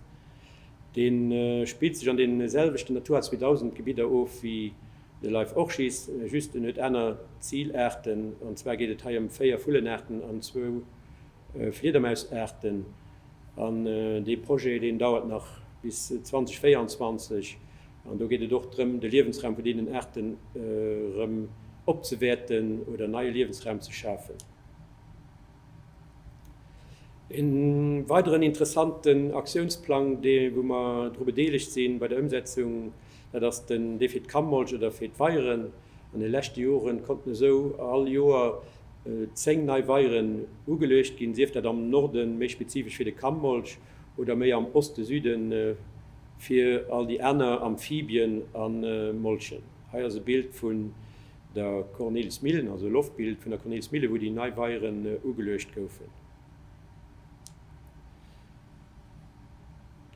Dee spillt sech an deene selwechten Natura 2000 Gebidder of wéi. De Leif Orchis just, en huet aner Zilaarten, an zwar geet et hei ëm véier Vullenaarten an zwou Fliedermausaarten. An dee Projet, deen dauert nach bis 2024, an do geet et och drëm, de Liewensraum vun deenen Aarten erëm opzewäerten oder neie Liewensraum ze schafen. Ee weideren interessanten Aktiounsplang, dee wou mer dru bedeelegt si bei der Ëmsetzung, Dat ass den Defit Kamboltsch oder Feet Weieren. An de leschte Joren konnten esou all Joer 10 nei Weieren ugeluecht ginn, sief dat am Norden, méi spezifesch fir de Kamboltsch, oder méi am Osten, Süden, fir all déi aner Amphibien a Molchen. Hei ass e Bild vun der Kornilsmillen, also e Loftbild vun der Kornilsmillen, wou déi nei Weieren ugeluecht goufen.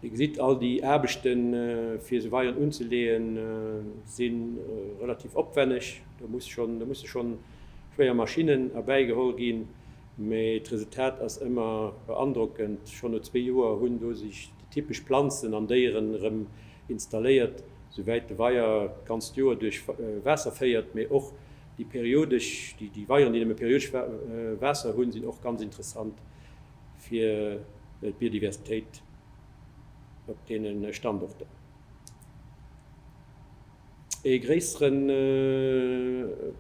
Dir gesitt, all déi Aarbechte fir se weieren unzelee si relativ opwenneg. Do musse schonn schwéier Maschinnen erbäigeholl ginn, mee d'Resultat ass ëmmer beandrockend. Schonn no zwee Joer hunn do sech déi typesch Planzen an Déieren erëm installéiert. Souwäit de Weier d'ganzt Joer duerch Waasser féiert, mee och déi periodesch, déi Weieren, déi nëmme periodesch Waasser hunn, sinn och ganz interessant. fir d'Biodiversitéit op deene Standorten ee gréissere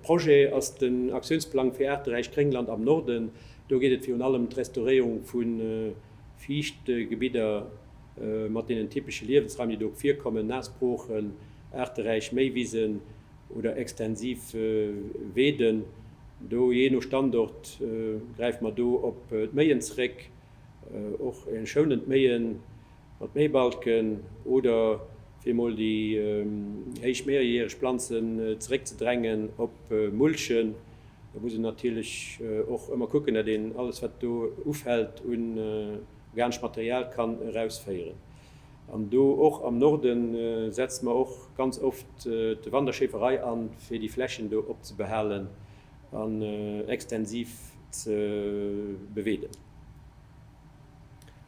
Projet ass den Aktiounsplang fir aarteräicht Gréngland am Norden. Do geet et virun allem ëm d'Restauréierung vu Fiichtgebidder mat deenen typesche Liewensraim, déi do virkommen, naass Broochen, aarteräich Méiwisen. oder extensiv weeden, do jee no Standort gräife mer do op d'Méien zeréck, och schounend Méien mat Méibalken oder fir emol déi héich mehrjährig Planzen zeréckzedrängen op Mulchen. Do muss een natierlech och ëmmer kucken, datt een alles wat do ufält un organeschem Material kann erausféieren. An do och am Norde setze mer och ganz oft de Wanderschäferei an, fir déi Flächen do op ze behalen an extensiv ze beweeden.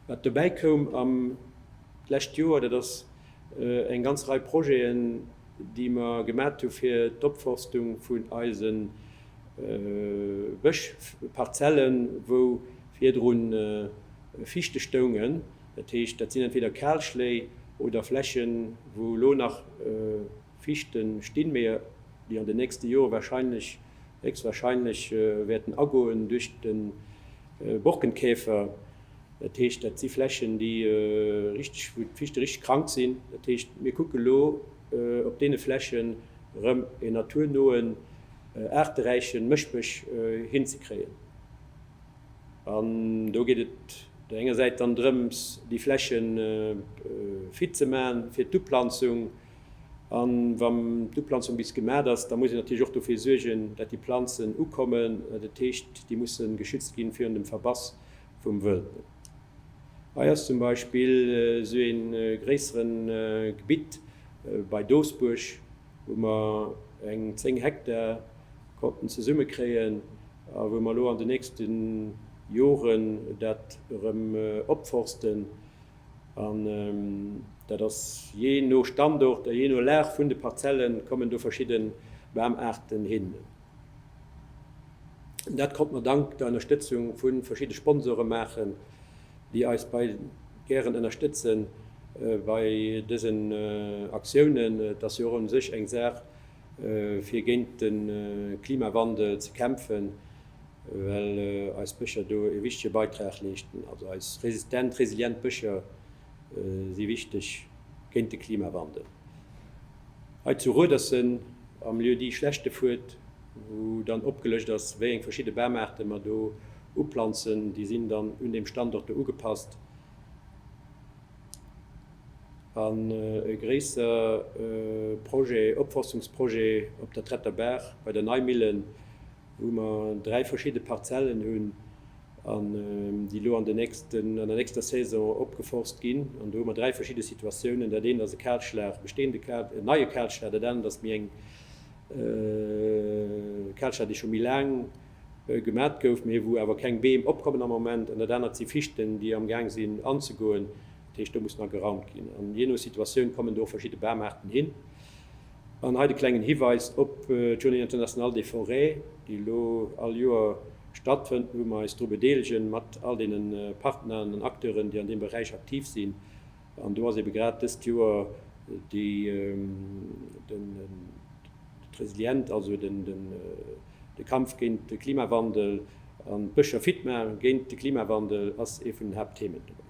Wat dobäi koum am d'lescht Joer, dat ass eng ganz Rei Projeten, déi mer gemat hu fir d'Opforstung vun eise Bëschparzellen, wou virdrun Fichte stoungen. Dat heescht, dat sinn entweder Kalschléi oder Flächen, wou elo nach Fichte stinn, mee déi an den nächste Jore wahrscheinlech, héchstwahrscheinlech, wäerten agoen duerch de Borkenkäfer. Dat heescht, dat si Flächen, déi richteg, wou d'Fichte richteg krank sinn. Dat heescht, mir kucke elo op deene Flächen erëm e naturnoen, aarteräiche Mëschbësch hinzekréien. An do geet et op där enger Säit dann drëms, déi Fläche fit ze maachen fir d'Uplanzung. A wa d'Uplanzung bis gemaach ass, da muss een natierlech och dofir suergen, datt déi Planzen ukommen. Dat heescht, déi musse geschützt gi virun dem Verbass vum Wëld. Hei ass zum Beispill esou ee gréissere Gebitt bei Doesbuerg, wou mer eng 10 Hektar. konnten zesumme kréien a wou mer elo an den nächste Joren dat erëm opforsten. An dat ass jee no Standort a jee no Lag vun de Parzelle kommen do verschidde Bamaarten hin. Dat konnte mer dank der Ënnerstëtzung vu verschidde Sponsore maachen, déi eis bei gären ënnerstëtze bei dësen Aktiounen. Et ass jo och u sech eng Saach, fir géint de Klimawandel ze kämpfen, well eis Bëscher do e wichtege Beitrag leeschten. Also eis resistent, resilient Bëscher si wichteg géint de Klimawandel. Hei zu Ruedersen am Lieu-dit Schlechtefuert, wou dann opgelëscht ass, wéi eng verschidde Bamaarte mer do uplanzen, déi sinn dann un deem Standort do ugepasst. an e gréisser Projet, Opforstungsprojet op der Tretter Baach bei der Neimillen, wou mer dräi verschidde Parzellen hunn, déi elo an der nächster Saison opgeforst ginn. An do hu mer dräi verschidde Situatiounen, dat eent ass e Kalschlag, e bestehende, en neie Kalschlag, dat anert ass méi eng Kalschlag, déi scho méi laang, gemat gouf, mee wou awer keng Beem opkommen am Moment, an dat anert si Fichten, déi am Gaang sinn anzegoen. Dat heescht, do muss nach geraumt ginn. An jee no Situatioun kommen do och verschidde Bamaarten hin. An hei de klengen Hiweis op d'Journée internationale des forêts, déi elo all Joer stattfënnt, wou mer eis dru bedeelegen, mat all deene Partneren an Acteuren, déi an deem Beräich aktiv sinn. An do ass eebe grad dëst Joer déi d'Resilient, also de Kampf géint de Klimawandel an d'Bëscher fit ma géint de Klimawandel ass ee vun den Haaptthemen dobäi.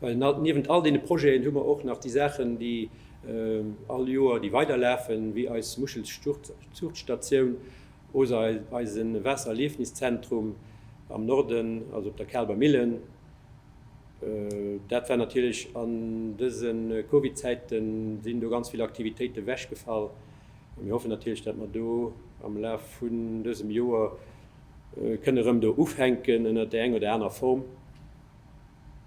Well niewent all deene Projeten hu mer och nach déi Saachen, déi all Joer déi weider lafen, wéi eis Muschelzuuchtstatioun oder eise Waassererliefniszentrum am Norden, also op der Kaalber Millen, Dat war natierlech an dëse Covid-Zäiten, sinn do ganz vill Aktivitéite wechgefall. Mir hoffen natierlech, dat mer do am Laf vun dësem Joer kënne rëm do ufänken ënnert där eng oder aner Form,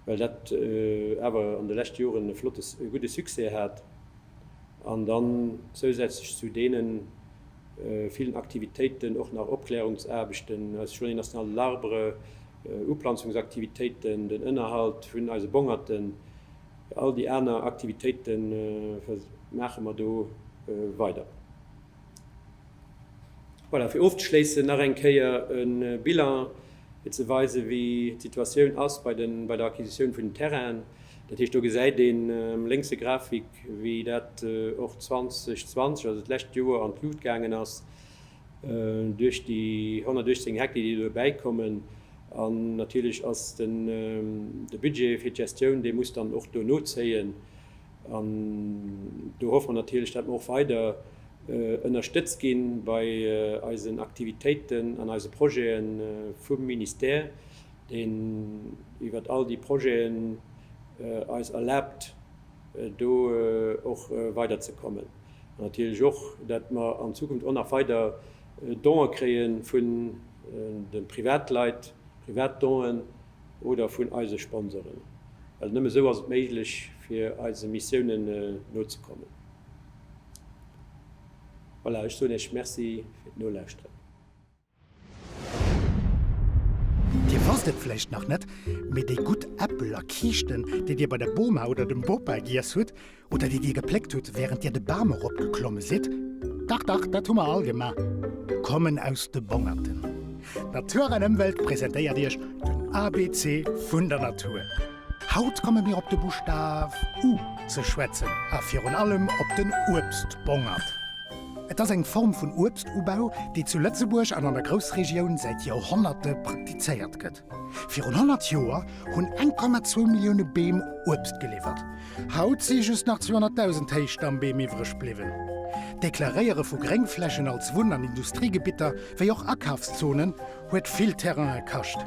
well dat awer an de leschte Joren e flotte, e gudde Succès hat. An dann zousätzlech zu deene villen Aktivitéiten och nach Opklärungsaarbechten, eis Journée nationale de l'Arbre, Uplanzungsaktivitéiten, den Ënnerhalt vun eise Bongerten, all déi aner Aktivitéite maache mer do weider. Voilà, fir ofzeschléissen nach eng Kéier e Bilan, fir ze weisen, wéi d'Situatioun ass bei der Acquisitioun vun den Terrainen. Dat heescht, do gesäit een am lénkse Grafik, wéi dat och 2020, also d'lescht Joer, an d'Luucht gaangen ass. Duerch déi 118 Hektar, déi elo bäikommen, an natierlech ass den de Budget fir d'Gestioun, dee muss dann och do nozéien. An do hoffe mer natierlech, datt mer och weider ënnerstëtzt gi bei eisen Aktivitéiten an eise Projete vum Ministère, deen iwwert all déi Projeten eis erlaabt, do och weiderzekommen. Natierlech och, datt mer an Zukunft och nach weider Done kréie vun de Privatleit, Privatdonen oder vun eise Sponsoren, well nëmme esou ass et méiglech, fir eise Missiounen nozekommen. Voilà, ech soen Iech Merci fir d'Nolauschteren. Dir wosst et vläicht nach net, mee déi gutt Äppel a Kiischten, déi Dir bei der Boma oder dem Bopa giess hutt, oder déi Dir gepléckt hutt, wärend Dir de Bam eropgeklomme sidd, dach, dach, dat hu mer all gemaach, kommen aus de Bongerten. Natur an Ëmwelt presentéiert Iech den ABC vun der Natur. Haut komme mir op de Buschtaf U ze schwätzen a virun allem op den Uebstbongert. Et ass eng Form vun Uebstubau, déi zu Lëtzebuerg an an der Groussregioun säit Joerhonnerte praktizéiert gëtt. Virun 100 Joer hunn 1,2 Millioune Beem Uebst geliwwert. Haut si just nach 200.000 Héichstammbeem iwwreg bliwwen. D'Deklaréiere vu Gréngflächen als Wunn an Industriegebitter, wéi och Akafszonen, huet vill Terraine kascht.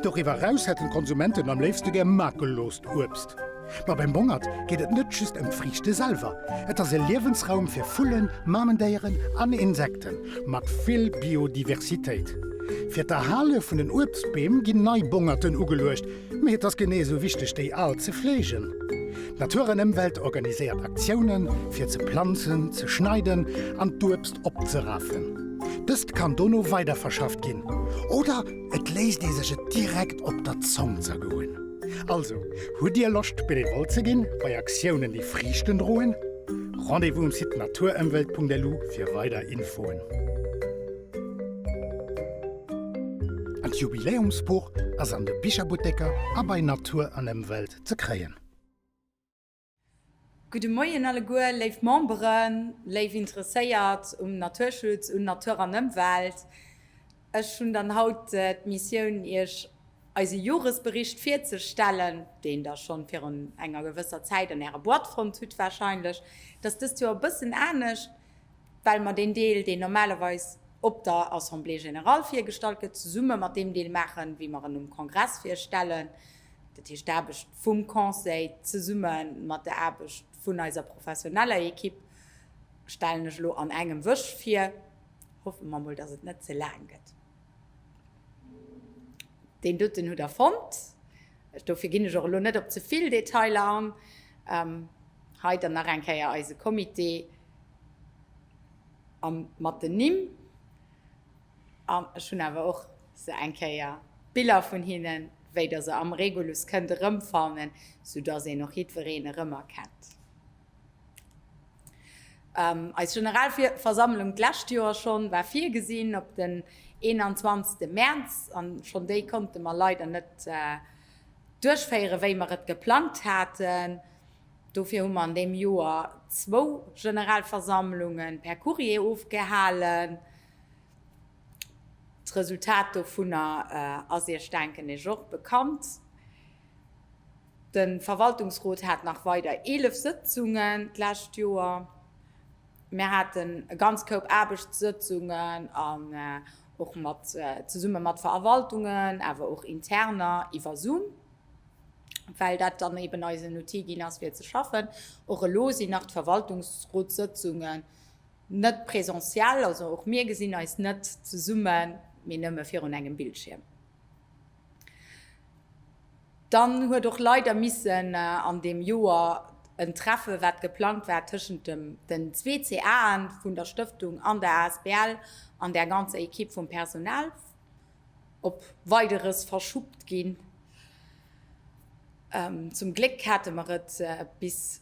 Doriwwer eraus hätten d'Konsumenten am léifste gär makellost Uebst. Ma beim Bongert geet et net just ëm d'Friichte selwer. Et ass e Liewensraum fir Vullen, Mamendéieren an Insekten, mat vill Biodiversitéit. Fir d'Erhale vun den Uebstbeem ginn nei Bongerten ugeluecht, mee et ass genee esou wichteg, déi al ze fleegen. D'Natur an Ëmwelt organiséiert Aktiounen, fir ze planzen, ze schneiden an d'Uebst opzerafen. Dëst kann dono weiderverschafft ginn oder. Et léisst ee sech et direkt op der Zong zergoen. Also, hutt Dir Loscht Benevole ze ginn bei Aktiounen déi Friichten droen? Rendez-vous um Site naturemwelt.lu fir weider Infoen. An d'Jubiläumsbuch ass an de Bicherbutteker a bei Natur an Emwelt ze kréien. Gudde Moien alleguer, léif Memberen, léif Interesséiert um Naturschutz, un Natur an Ëmwelt. Ech hunn dann haut d'Missioun, Iech eise Joresbericht virzestellen, deen Der schonn virun enger gewësser Zäit an Äre Boîte fonnt hutt warscheinlech. Et ass dëst Joer e bëssen anescht, well mer deen Deel, deen normalerweis op der Assemblée générale virgestallt gëtt, zesumme mat deem Deel maachen, wéi mer en um Kongress virstellen. Dat heescht, d'Aarbecht vum Conseil zesumme mat der Aarbecht vun eiser professioneller Ekipp stellen ech elo an engem Wësch vir. Hoffe mer emol, dass et net ze laang gëtt. Deen doten hutt Der fonnt. Dofir ginn ech och elo net op ze vill Detailer an. Hei dann nach eng Kéier eise Comité mat den Nimm. An ech hunn awer och se eng Kéier, d'Biller vun hinnen, wéi Der se am Regulus kënnt erëmfannen, soudass een och jiddwereen erëmerkennt. Eis Generalversammlung d'lescht Joer schonn war virgesinn op den 21 Mäerz, an schonn déi konnte mer leider net duerchféieren, wéi mer et geplangt haten. Dofir hu mer an deem Joer zwou Generalversammlungen per Courrier ofgehalen. D'Resultat dovunner ass Iech, denken ech, och bekannt. De Verwaltungsrot hat nach weider 11 Sëtzungen d'lescht Joer. Mir haten e ganz Koup Aarbechtssëtzungen an och mat, zesumme mat Verwaltungen, awer och interner iwwer Zoom, well dat dann eben eis en Outil ginn ass, fir ze schaffen. Och elo sinn nach d'Verwaltungsrotssëtzungen Net presentiell, also och mir gesinn eis net zesummen, mee nëmme virun engem Bildschierm. Dann huet och leider missen an deem Joer en Treffe wat geplangt war tëschent dem den zwee CA'en vun der Stëftung an der Asbl an där ganzer Equipe vum Personal op Weideres verschuppt ginn. Zum Gléck hate mer et bis.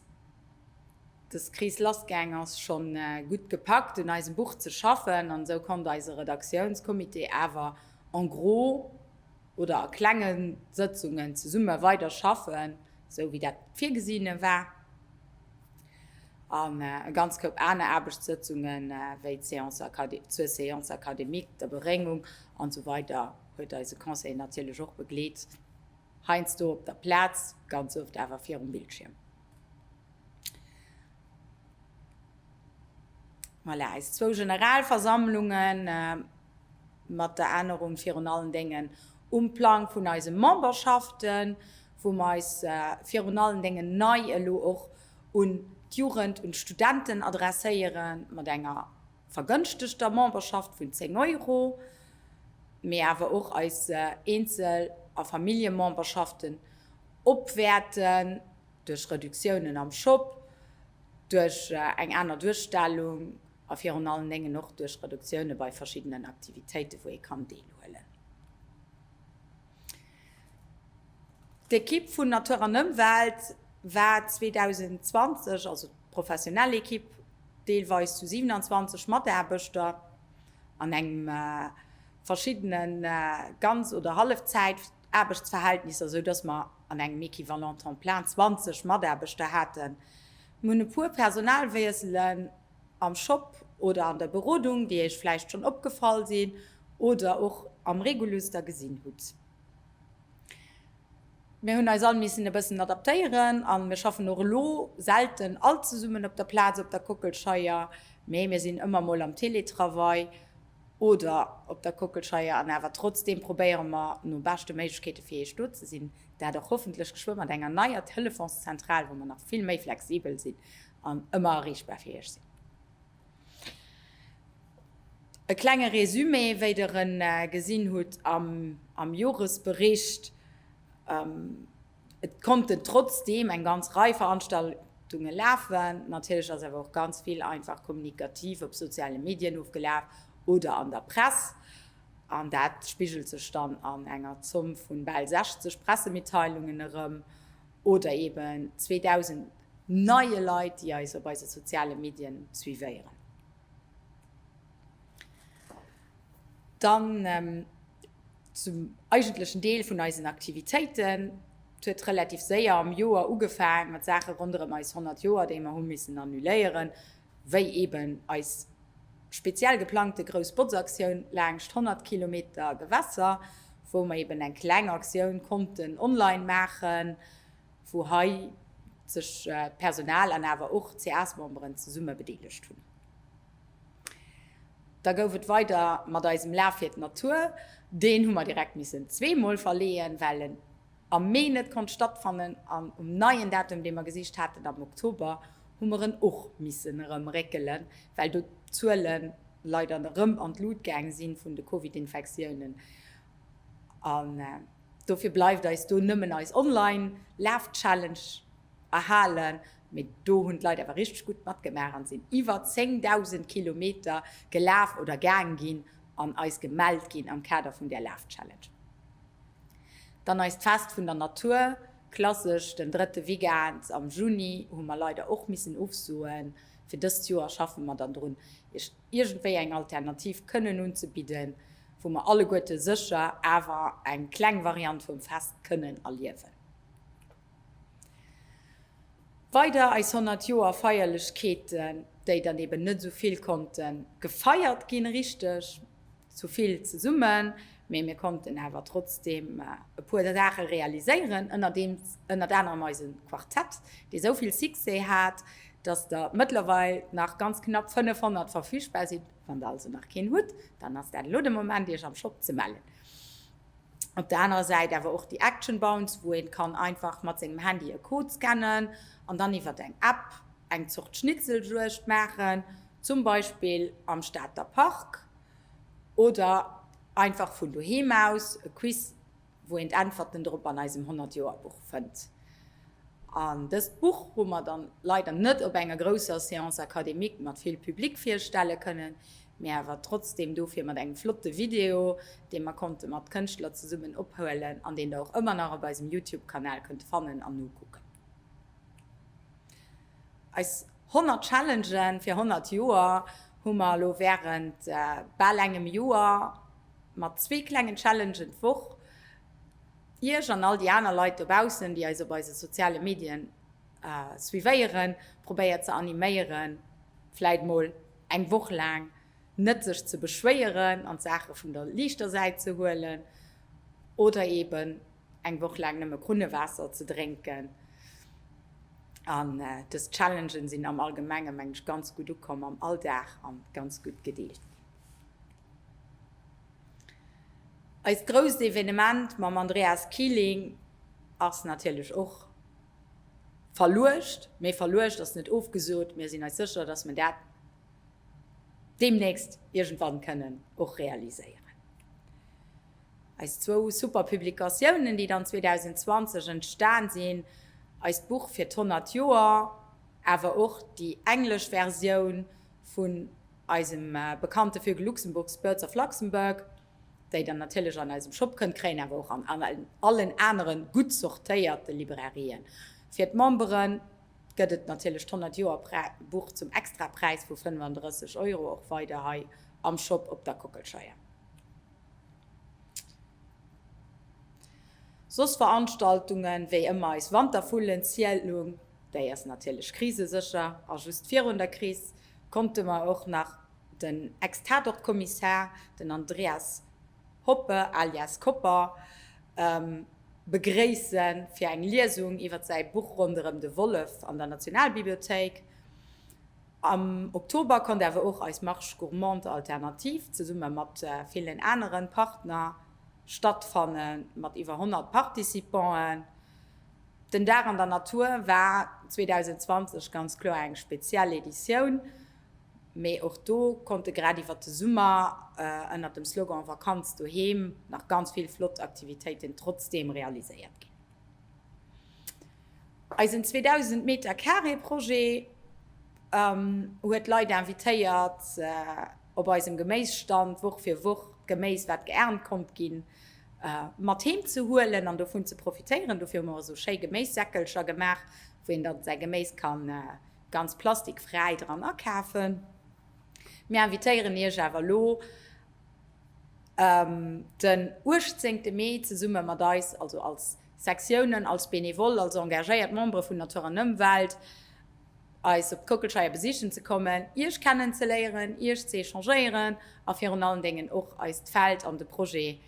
Des Kris lassgaang ass, schonn gutt gepackt un eisem Buch ze schaffen an esou konnt eise Redaktiounscomité awer en gros oder a klenge Sëtzungen zesumme weider schaffen, esou wéi dat virgesinn war. An e ganz Koup aner Aarbechtssëtzungen, wéi zur Séance académique, der Beréngung an sou weider huet eise Conseil natierlech och begleet, heiansdo op der Plaz, ganz oft awer virum Bildschierm. Voilà, eis zwou Generalversammlunge mat der Ännerung virun allen Déngen um Plang vun eise Memberschaften, wou mer eis virun allen Déngen nei elo och un d'Jugend, un d'Studenten adresséiere mat enger vergënschtegter Memberschaft vun 10 Euro, mee awer och eis Eenzel a Familljememberschaften. Opwäerten, duerch Reduktiounen am Shop, duerch eng aner Duerstellung a virun allen Déngen och duerch Reduktioune bei verschiddenen Aktivitéiten, wou ee kann deelhuelen. D'Ekipp vun Natur an Ëmwelt war 2020, also d'professionell Ekipp, deelweis zu 27 Mataarbechter an engem verschiddene ganz oder Hallefzäit. Aarbechtsverhältnisser, esou dass mer an engem équivalent temps plein 20 Mataarbechter haten. Mir hunn e puer Personalwiesselen am Shop oder an der Berodung, déi Iech vläicht schonn opgefall sinn oder och am Reguluster gesinn hutt. Mir hunn eis all missen e bëssen adaptéieren a mir schaffen och elo selten all zesummen op der Plaz op der Kockelscheier, mee mir sinn ëmmer mol am Teletravail. oder op der Kockelscheier an awer trotzdeem probéiere mer no beschte Méiglechkeete fir Iech do ze sinn, dat och hoffentlech geschwë mat enger neier Telefonszentral, wou mer nach vill méi flexibel sinn an ëmmer erreechbar fir Iech sinn. E klenge Résumé, wéi Der en gesinn hutt am Joresbericht. Et konnten trotzdeem eng ganz Rei Veranstaltunge lafen. Natierlech ass awer och ganz vill einfach kommunikativ op soziale Medien ofgelaf oder an der Press. An dat spigelt sech dann an enger Zomm vu bal 60 Pressemitteilungen erëm oder eben 2.000 neie Leit, déi eis op eise soziale Medien suivéieren. Dann. Zum eigentlechen Deel vun eisen Aktivitéiten. Et huet relativ séier am Joer ugefaang mat Saache ronderëm eis 100 Joer, déi mer hu missen annuléieren, wéi eben eis speziell geplangte grouss Botzaktioun laangscht 100 Kilometer Gewässer, wou mer eben eng kleng Aktioun konnten online maachen, wou hei sech d'Personal an awer och d'CA's-Memberen zesumme bedeelegt hunn. Da gouf et weider mat eisem Laf fir d'Natur. Deen hu mer direkt missen zweemol verleeën, well en am Mee net konnt stattfannen. An um neien Datum, dee mer gesicht haten, am Oktober, hu mer en och missen erëm réckelen, well do d'Zuele leider erëm an d'Lut gaang si vun de Covid-Infektiounen. An dofir bleift eis do nëmmen eis Online-Laf-Challenge erhalen. Mee do hunn d'Leit awer richteg gutt matgemaach an sinn iwwer 10.000 Kilometer gelaf oder gaang ginn an eis gemellt ginn am Kader vun där Lafchallenge. Dann eist Fest vun der Natur, klassesch den drëtte Weekend am Juni, hu mer leider och missen ofsoen. Fir dëst Joer schaffe mer dann drun, iech iergendwéi eng Alternativ kënnen unzebidden, wou mer alleguerte sécher awer eng kleng Variant vum Fest kënnen erliewen. Weider eis 100 Joer Feierlechkeeten, déi dann eben net esou vill konnte gefeiert ginn, richteg esou vill zesummen, mee mir konnten awer trotzdem e puer Saache realiséieren, ënnert anerem eise Quartett, dee esou vill Succès hat, dass der mëttlerweil nach ganz knapp 500 verfügbar sinn. Wann der also nach keen hutt, dann ass dat elo de Moment, Iech am Shop ze mellen. Op der anerer Säit awer och déi Action Bounce, wou een kann einfach mat sengem Handy e Code scannen an dann iwwert eng App eng Zort Schnitzeljuegd maachen, zum Beispill am Stater Park oder einfach vun doheem aus, e Quiz, wou een d'Äntwerten drop an eisem 100 Joer Buch fënnt. An dëst Buch hu mer dann leider net op enger grousser Séance académique mat vill Public virstelle kënnen. Mee awer trotzdem dofir mat engem flotte Video, dee mer konnte mat Kënschtler zesummen ophuelen an deen der och ëmmer nach op eisem Youtube-Kanal kënnt fannen an nokucken. Eis 100 Challengen fir 100 Joer hu mer elo wärend bal engem Joer mat zwee klengen Challengen d'Woch iech an all déi aner Leit dobaussen, déi eis op eise soziale Medien suivéieren, probéiert ze animéieren, vläit mol eng Woch laang net sech ze beschwéieren an d'Saache vun der liichter Säit ze huelen oder eben eng Woch laang nëmme Krunnewaasser ze drénken. An dës Challengen sinn am Allgemenge meng ech ganz gutt ukomm am Alldag an ganz gutt gedeelt ginn. Eist grousst Evenement mam Andreas Kiling ass natierlech och Verluecht, mee verluecht ass net ofgesot. Mir sinn eis sécher, dass mer dat deemnächst iergendwann kënnen och realiséieren. Eis zwou super Publikatiounen, déi dann 2020 entstan sinn, eist Buch fir d'honnert Joer, awer och déi englesch Versioun vun eisem bekannte Vögel Luxemburgs, Birds of Luxembourg, déi der natierlech an eisem Shop kënnt kréien, awer och an allen anere gutt sortéierte Librairien. Fir d'Memberen gëtt et natierlech d'Honnert Joer Buch zum Extrapräis vu 35 Euro och weider hei am Shop op der Kockelscheier. Soss Veranstaltungen, wéi ëmmer eis Wantervullenzielung, déi ass natierlech krisesécher a just virun der Kris konnte mer och nach Den Ex-Tatort-Kommissär, den Andreas Hoppe alias Kopper, begréissen fir eng Liesung iwwer säi Buch Ronderëm de Wollef an der Nationalbibliothéik. Am Oktober konnt awer och eis Marche Gourmande Alternative zesumme mat villen anere Partner stattfanne mat iwwer 100 Participanten. Den Dag an der Natur war 2020 ganz kloer eng speziell Editioun. Mee och do konnte grad iwwert de Summer ënnert dem Slogan Vakanz doheem nach ganz vill flott Aktivitéiten trotzdeem realiséiert ginn. Eisen 2000 Meter Carré Projet huet Leit invitéiert op eisem Geméisstand Woch fir Woch d'Geméis wat geernt konnt ginn mat heem ze huelen an dovun ze profitéieren. Dofir hu mer esou schéi Geméissäckelcher gemaach wou een dann säi Geméis kann ganz plastikfräi dran akafen. Mir invitéieren Iech awer elo ëm den uechtzéngte Mee zesumme mat eis, also als Sektiounen, als Benevole, als engagéiert Membere vun Natur an Ëmwelt, eis op d'Kockelscheier besichen ze kommen, Iech kennenzeléieren, Iech ze échangéieren a virun allen Déngen och eist Feld an de Projet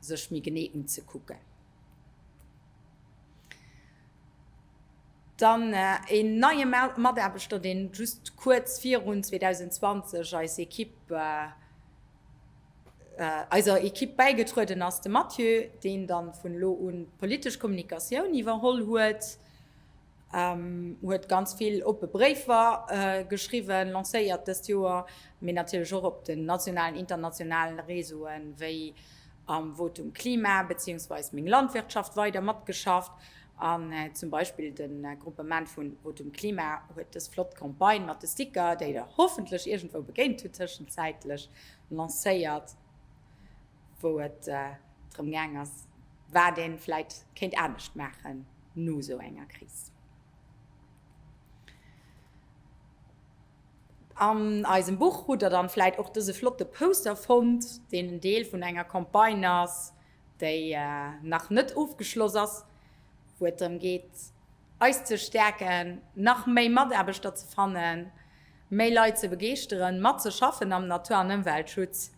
sech méi genee unzekucken. Dann een neie Mataarbechter, deen just kuerz virun 2020 eis Equipe, eiser Equipe bäigetrueden ass, de Mathieu, deen dann vun elo un d'politesch Kommunikatioun iwwerholl huet. huet ganz vill oppe Bréifer geschriwwen, lancéiert dëst Joer, mee natierlech och op den nationalen, internationalen Réseauen, wéi am Votum Klima beziehungsweise Meng Landwirtschaft weider matgeschafft. An zum Beispill de Gruppement vu Votum Klima huet dës flott Campagne mat de Sticker, déi Der hoffentlech iergendwou begéint hutt tëschenzäitlech, lancéiert. wou et drëm gaang ass, wat ee vläit kéint anescht maachen no esou enger Kris. An eisem Buch hutt der dann vläit och dëse flotte Poster fonnt, deen en Deel vun enger Campagne ass, déi nach net ofgeschloss ass, wou et drëm geet, eis ze stäerken, nach méi Mataarbechter ze fannen, méi Leit ze begeeschteren, matzeschaffen am Natur an Ëmweltschutz.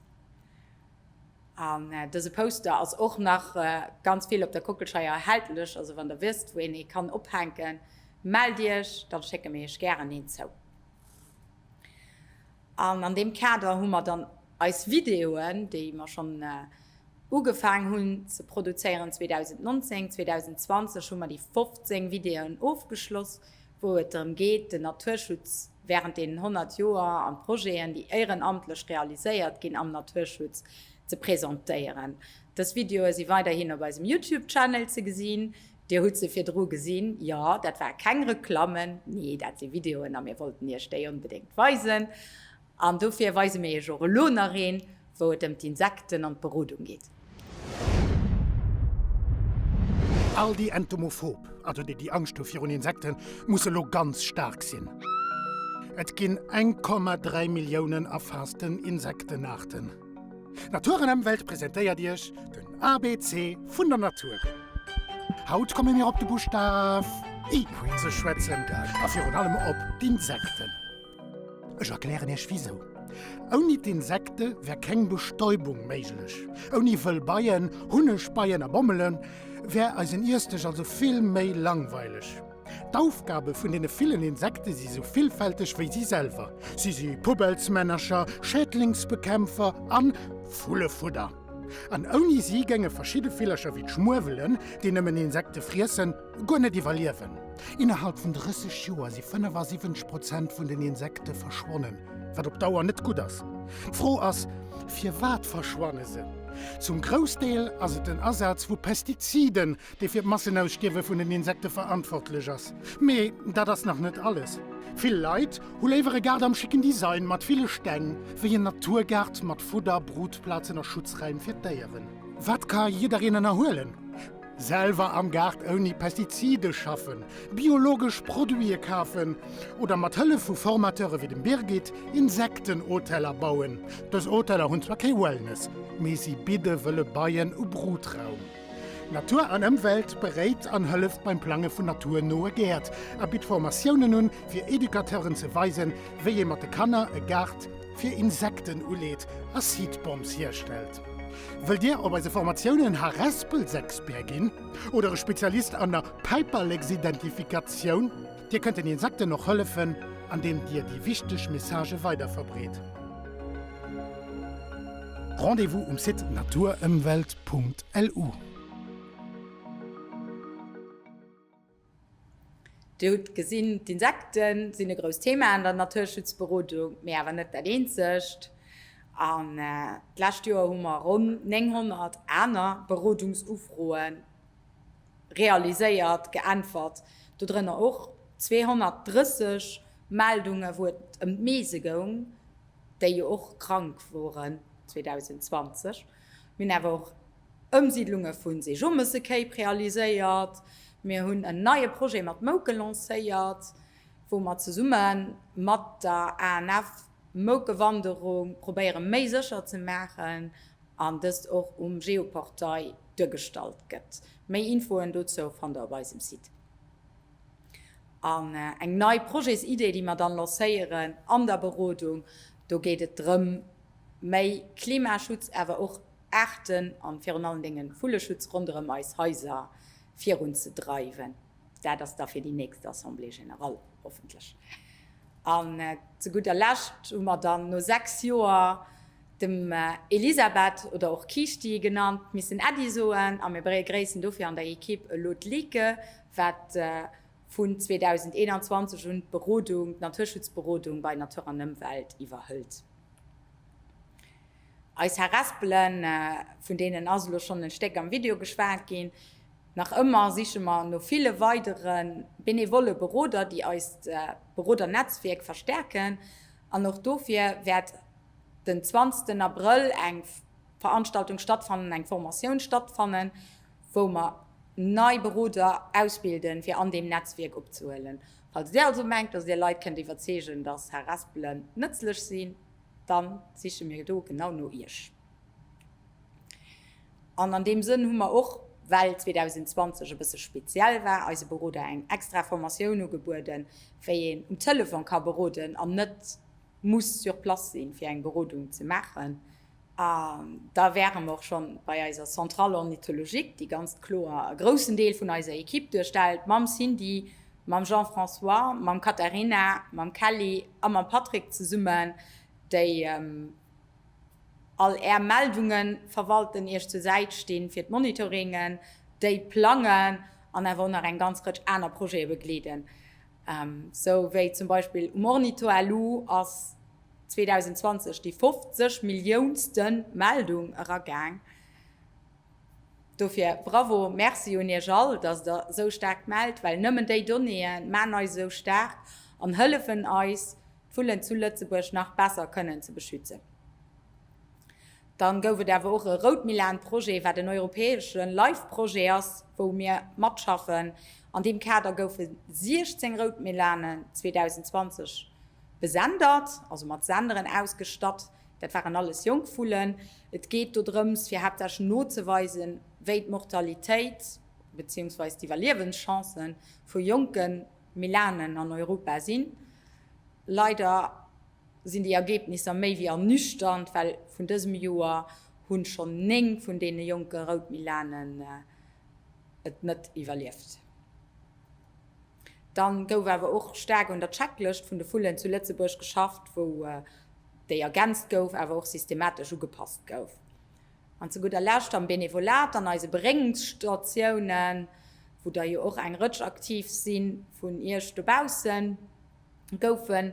An dëse Poster ass och nach ganz vill op der Kockelscheier erhältlech, also wann der wësst wou een ee kann ophänken, mellt iech, dann schécke mir iech gären een zou. An an deem Kader hu mer dann eis Videoen, déi mer schonn ugefaang hunn ze produzéieren 2019, 2020 hu mer déi 15 Videoen ofgeschloss, wou et drëm geet, den Naturschutz während deenen 100 Joer an d'Projeten, déi éierenamtlech realiséiert ginn am Naturschutz, ze presentéieren. Dës Videoe si weiderhin op eisem YouTube-Channel ze gesinn. Dir hutt se virdru gesinn. Jo, dat ware keng Reklammen, nee, dat si Videoen a mir wollten Iech déi onbedéngt weisen. An dofir weise mir iech och elo nach een, wou et ëm d'Insekten an d'Berodung geet. All déi entomophob, also déi déi Angscht hu virun Insekten, musse lo ganz staark sinn. Et ginn 1,3 Milliounen erfaassten Insektenaarten. Natur an Emwelt presentéiert iech den ABC vun der Natur. Haut komme mir op de Buschtaf I ze schwätzen a virun allem op d'Insekten. Ech erklären iech wisou. Ouni d'Insekte wär keng Bestäubung méiglech. Ouni wëll Beien, Hunnegbeien a Bommelen, wär eisen Iessdësch also vill méi langweileg. D'Aufgabe vun deene villen Insekte si sou villfälteg wéi si selwer. Si si Pubelsmännercher, Schädlingsbekämpfer a Vullefudder. An ouni si géinge verschidde Villercher wéi d'Schmuewelen, déi nëmmen Insekte friessen, Guer net iwwerliewen. Innerhalb vun 30 Joer si 75 Prozent vun den Insekte verschwonnen, wat op Dauer net gutt ass. D'Fro ass, firwat verschwanne se? Zum Groussdeel ass et den Asaz vu Pestiziden, dee fir d'Massenausstierwe vun den Insekte verantwortlech ass. Mee dat ass nach net alles. Vill Leit hu léiwer e Gaart am schicken Design mat ville Steng, wéi en Naturgaart mat Fudder, Brutplazen a Schutzräim fir d'Déieren. Wat ka jiddereen ënnerhuelen? Selwer am Gaart ouni Pestizide schaffen, biologesch Produite kafen oder mat Hëllef vu Formateure wéi dem Birgit Insektenhoteller bauen. Dës Hoteller hunn zwar kee Wellness, mee si bidde wëlle Beien u Brutraum. Natur an Ëmwelt beréit an hëlleft beim Plange vun naturnoe Gäert a bitt Formatiounen un, fir Educateuren ze weisen, wéi ee mat de Kanner e Gaart fir Insekten uleet a Seed Bombs hierstellt. Wëllt Dir op eise Formatiounen Harespelsexpert ginn oder e Spezialist an der Päiperleksidentifikatioun? Dir kënnt den Insekten och hëllefen, andeem Dir déi wichteg Messagë weiderverbreet. Rendez-vous um Site naturëmwelt.lu. Dir hutt gesinn, d'Insekte sinn e grousst Thema an der Naturschutzberodung, mee awer net dat eenzegt. An d'lescht Joer hu mer ronn 900 aner Berodungsufroe realiséiert, geäntwert, dodrënner och 230 Meldunge wou et ëm d'Meese goung, déi jo och krank woren 2020. Mir hunn awer och Ëmsiidlunge vu Seejomessekéip realiséiert. Mir hunn en neie Projet mat Mouke lancéiert, wou mer zesumme mat der ANF d'Moukewanderung probéiere méi sécher ze maachen an dëst och um Geoportail duergestallt gëtt. Méi Infoen dozou fannt der op eisem Site. An eng nei Projetsidee, déi mer dann lancéieren an der Berodung, do geet et drëm, méi Klimaschutz, awer och. Aarten an virun allen Dengen Vulleschutz ronderem eis Haiser virun ze dreiwen. Daat ass da fir déi nächst Assemblée Générale hoffentlech. An ze gudder Lescht hu mer dann no 6 Joer dem Elisabeth, oder och Kiischti genannt, missen Äddi soen a mir begréissen dofir an der Equipe elo d'Like, waat vun 2021 un d'Berodung, d'Naturschutzberodung bei Natur an Ëmwelt iwwerhëlt. Eis Harespelen, vun deenen ass elo schonn en Stéck am Video geschwat ginn. Nach ëmmer siche mer no ville weidere benevolle Beroder, déi eist Berodernetzwierk verstärken an och dofir wäert den zwanzegsten Abrëll eng Veranstaltung stattfannen, eng Formatioun stattfannen, wou mer nei Beroder ausbilden, fir an deem Netzwierk opzehuelen. Falls Dir also mengt, dass Dir Leit kënnt iwwerzeegen, dass Harespelen nëtzlech sinn, dann siche mir do genau no Iech. An an deem Sënn hu mer och, well 2020 e bësse speziell war, eise Beroder eng extra Formatioun ugebueden, wéi een um Telefon ka beroden an net muss sur place sinn, fir eng Berodung ze maachen. A da wäre mer och scho bei eiser Centrale ornithologique, déi ganz kloer e groussen Deel vun eiser Ekipp duerstellt, mam Cindy, mam Jean-François, mam Katharina, mam Kelly a mam Patrick zesummen, déi all Är Meldunge verwalten, Iech zur Säit sti fir d'Monitoringen, déi plangen an awer och nach eng ganz Rëtsch aner Projete begleeden. Sou wéi zum Beispill um Ornitho elo ass 2020 déi 50 Milliounste Meldung eragaang. Dofir bravo, Merci un Iech all, dass Der esou staark mellt, well nëmmen déi Donnéeë maachen eis esou staark an hëllefen eis, d'Vullen zu Lëtzebuerg nach besser kënnen ze beschützen. Dann gouf et awer och e Routmilan-Projet, wat en europäesche Life-Projet ass, wou mir matschaffen. An deem Kader goufe 16 Routmilanen 2020 besendert, also mat Senderen ausgestatt. Dat waren alles jonk Vullen. Et geet do drëms, fir haaptsächlech nozeweisen, wéi d'Mortalitéit beziehungsweise d'Iwwerliewenschancen vu jonke Milanen an Europa sinn. Leider. sinn déi Ergebnisser méi wéi ernüchternd, well vun dësem Joer hunn schonn 9 vun deene jonke Rout Milanen et net iwwerlieft. Dann gouf awer och staark un der Checklëscht vun de Vullen zu Lëtzebuerg geschafft, wou déi ergänzt gouf, awer och systematesch ugepasst gouf. An zu gudder Lescht am Benevolat an eise Beréngungsstatiounen, wou der jo och eng Rëtsch aktiv sinn vun iech dobaussen. goufen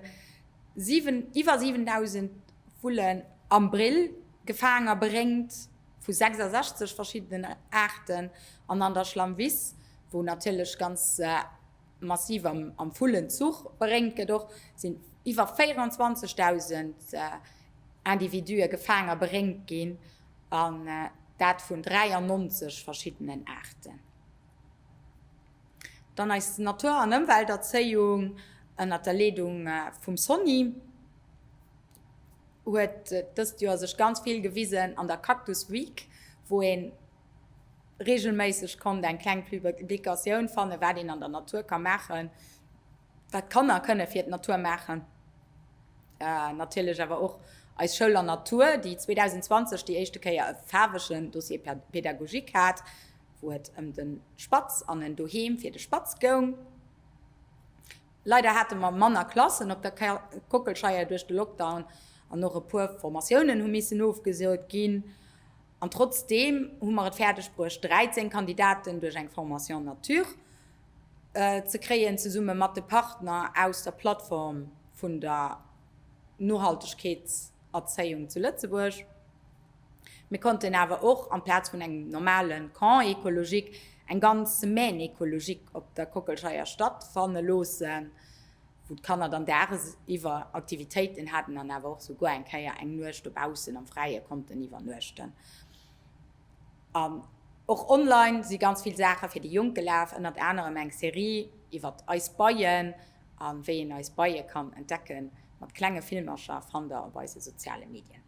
iwwer 7.000 Vullen am Brill gefaang a beréngt vu 66 verschiddenen Aarten. An an der Schlammwiss, wou natierlech ganz massiv am Vullenzuch beréngt gëtt och, sinn iwwer 24.000 Individue gefaang a beréngt ginn, an dat vun 93 verschiddenen Aarten. Dann eis Natur an Ëmwelterzéiung ënnert der Leedung vum Sonny huet dëst Joer sech ganz vill gewisen an der Cactus Week, wou een regelméisseg konnt eng kleng Publicatioun fannen, wat een an der Natur ka maachen, wat d'Kanner kënne fir d'Natur maachen. Natierlech awer och eis Schoul an Natur, déi 2020 déi éischte Kéier e faarwegen Dossier pédagogique hat, wou et ëm den Spatz an en Doheem fir de Spatz goung. Leider hate mer manner Klassen op der Kockelscheier duerch de Lockdown an och e puer Formatiounen hu missen ofgesot ginn. An trotzdeem hu mer et fäerdeg bruecht 13 Kandidaten duerch eng Formation en nature ze kréien, zesumme mat de Partner aus der Plattform vun der Nohaltegkeetserzéiung zu Lëtzebuerg. Mir konnten awer och amplaz vun engem normale Camp écologique eng ganz Semaine écologique op der Kockelscheier statt fanne loossen, wou d'Kanner dann daagsiwwer Aktivitéiten haten an awer och souguer eng Kéier eng Nuecht dobaussen am Fräie konnten iwwernuechten. An och online si ganz vill Saache fir déi Jonk gelaf, ënnert anerem eng Serie iwwert eis Beien a wéi een eis Beie kann entdecken, mat klenge Filmercher, fannt der op eise soziale Medien.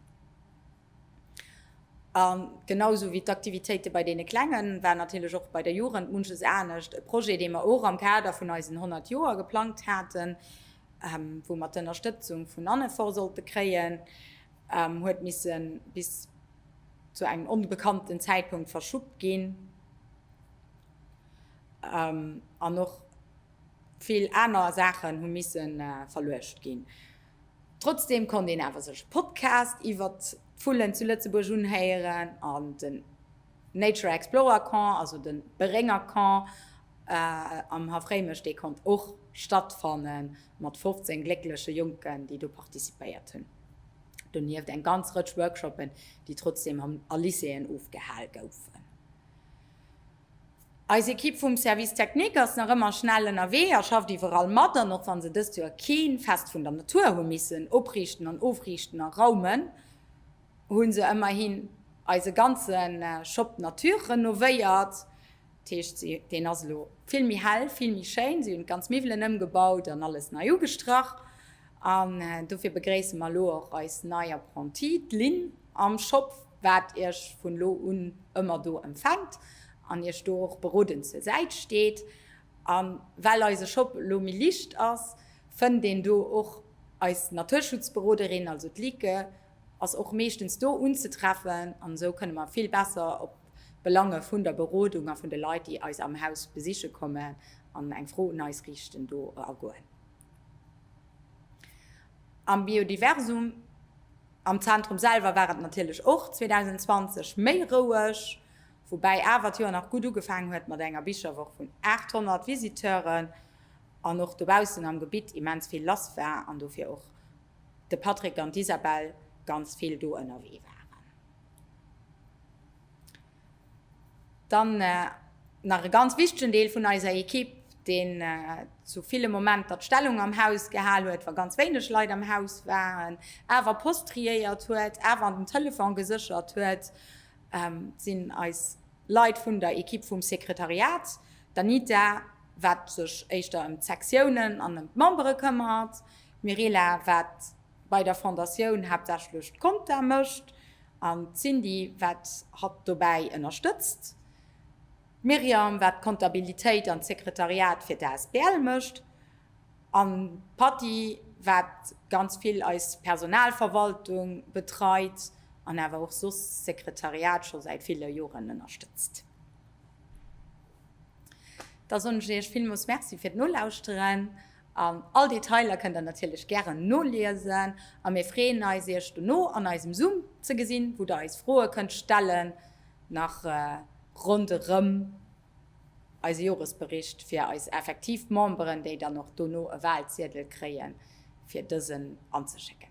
A genau sou wéi d'Aktivitéite bei deene Klengen, war natierlech och bei der Jugend munches anescht. E Projet, dee mer och am Kader vun eisen 100 Joer geplangt haten, wou mer d'Ënnerstëtzung vun Annefor sollte kréien, huet misse bis zu engem onbekannten Zäitpunkt verschuppt ginn. An och vill aner Saachen hu misse verluecht ginn. Trotzdeem konnt een awer sech e Podcast iwwert d'Vullen zu Lëtzebuerg unhéieren an den Nature Explorer Camp, also de Berénger Camp am Haff Réimech, dee konnt och stattfanne mat 15 gléckleche Jonken, déi do participéiert hunn. Donieft eng ganz Rëtsch Workshoppen, déi trotzdeem a Lycéeën ofgehal goufen. Eis Ekipp vum Service Technique ass nach ëmmer schnell ënnerwee a schafft iwwerall mat an, och wa se dëst Joer kee Fest vun der Natur hu missen opriichten an ofriichten a raumen, hu se ëmmerhin eise ganze Shop Nature renovéiert. Dat heescht, deen ass elo vill méi hell, vill méi schéin. Si hunn d'ganz Miwwelen ëmgebaut an alles nei ugestrach. An dofir begréisse mer elo och eis nei Apprentie, d'Lynn. Am Shop waart iech vun lo un ëmmer do empfänkt an iech do och berodend zur Säit steet. An well eise Shop lo méi licht ass, fënnt een do och eis Naturschutzberoderin, also d'Lieke ass och meeschtens do unzetreffen an esou kënne mer vill besser op d'Belange vun der Berodung a vun de Leit déi eis am Haus besiche kommen an eng Fro un eis riichten do agoen. Am Biodiversum. Am Zentrum selwer war et natierlech och 2020 méi roueg, woubäi awer d'Joer nach gutt ugefaangen huet mat enger Bicherwoch vun 800 Visiteuren an och dobaussen am Gebitt immens vill lass war an dofir och de Patrick an d'Isabelle ganz vill do ënnerwee waren. Dann nach e ganz wichtegen Deel vun eiser Ekipp, deen zu ville Momenter d'Stellung am Haus gehal huet, wa ganz wéineg Leit am Haus waren, awer Post triéiert huet, awer an den Telefon geséchert huet, sinn eis Leit vun der Ekipp vum Sekretariat, d'Anita, wat sech éischter ëm d'Sektiounen an ëm d'Membere këmmert, d'Mirela, wat Bei der Fondatioun haaptsächlech d'Conta mécht an d'Cindy wat hatt dobäi ënnerstëtzt. D'Myriam wat d'Comptabilitéit an d'Sekretariat fir d'ASBL mécht an d'Patty wat ganz vill eis Personalverwaltung betreit an awer och soss d'Sekretariat scho säit ville Joren ënnerstëtzt. Da soen ech Iech villmools Merci fir d'Nolauschteren All Detailer kënnt der natierlech gären noliesen a mir freeën eis iech dono an eisem Zoom ze gesinn, wou der eis Froe kënnt stellen nach ronderëm eise Joresbericht fir eis effektiv Memberen, déi dann och dono e Walziedel kréie fir dësen anzeschécken.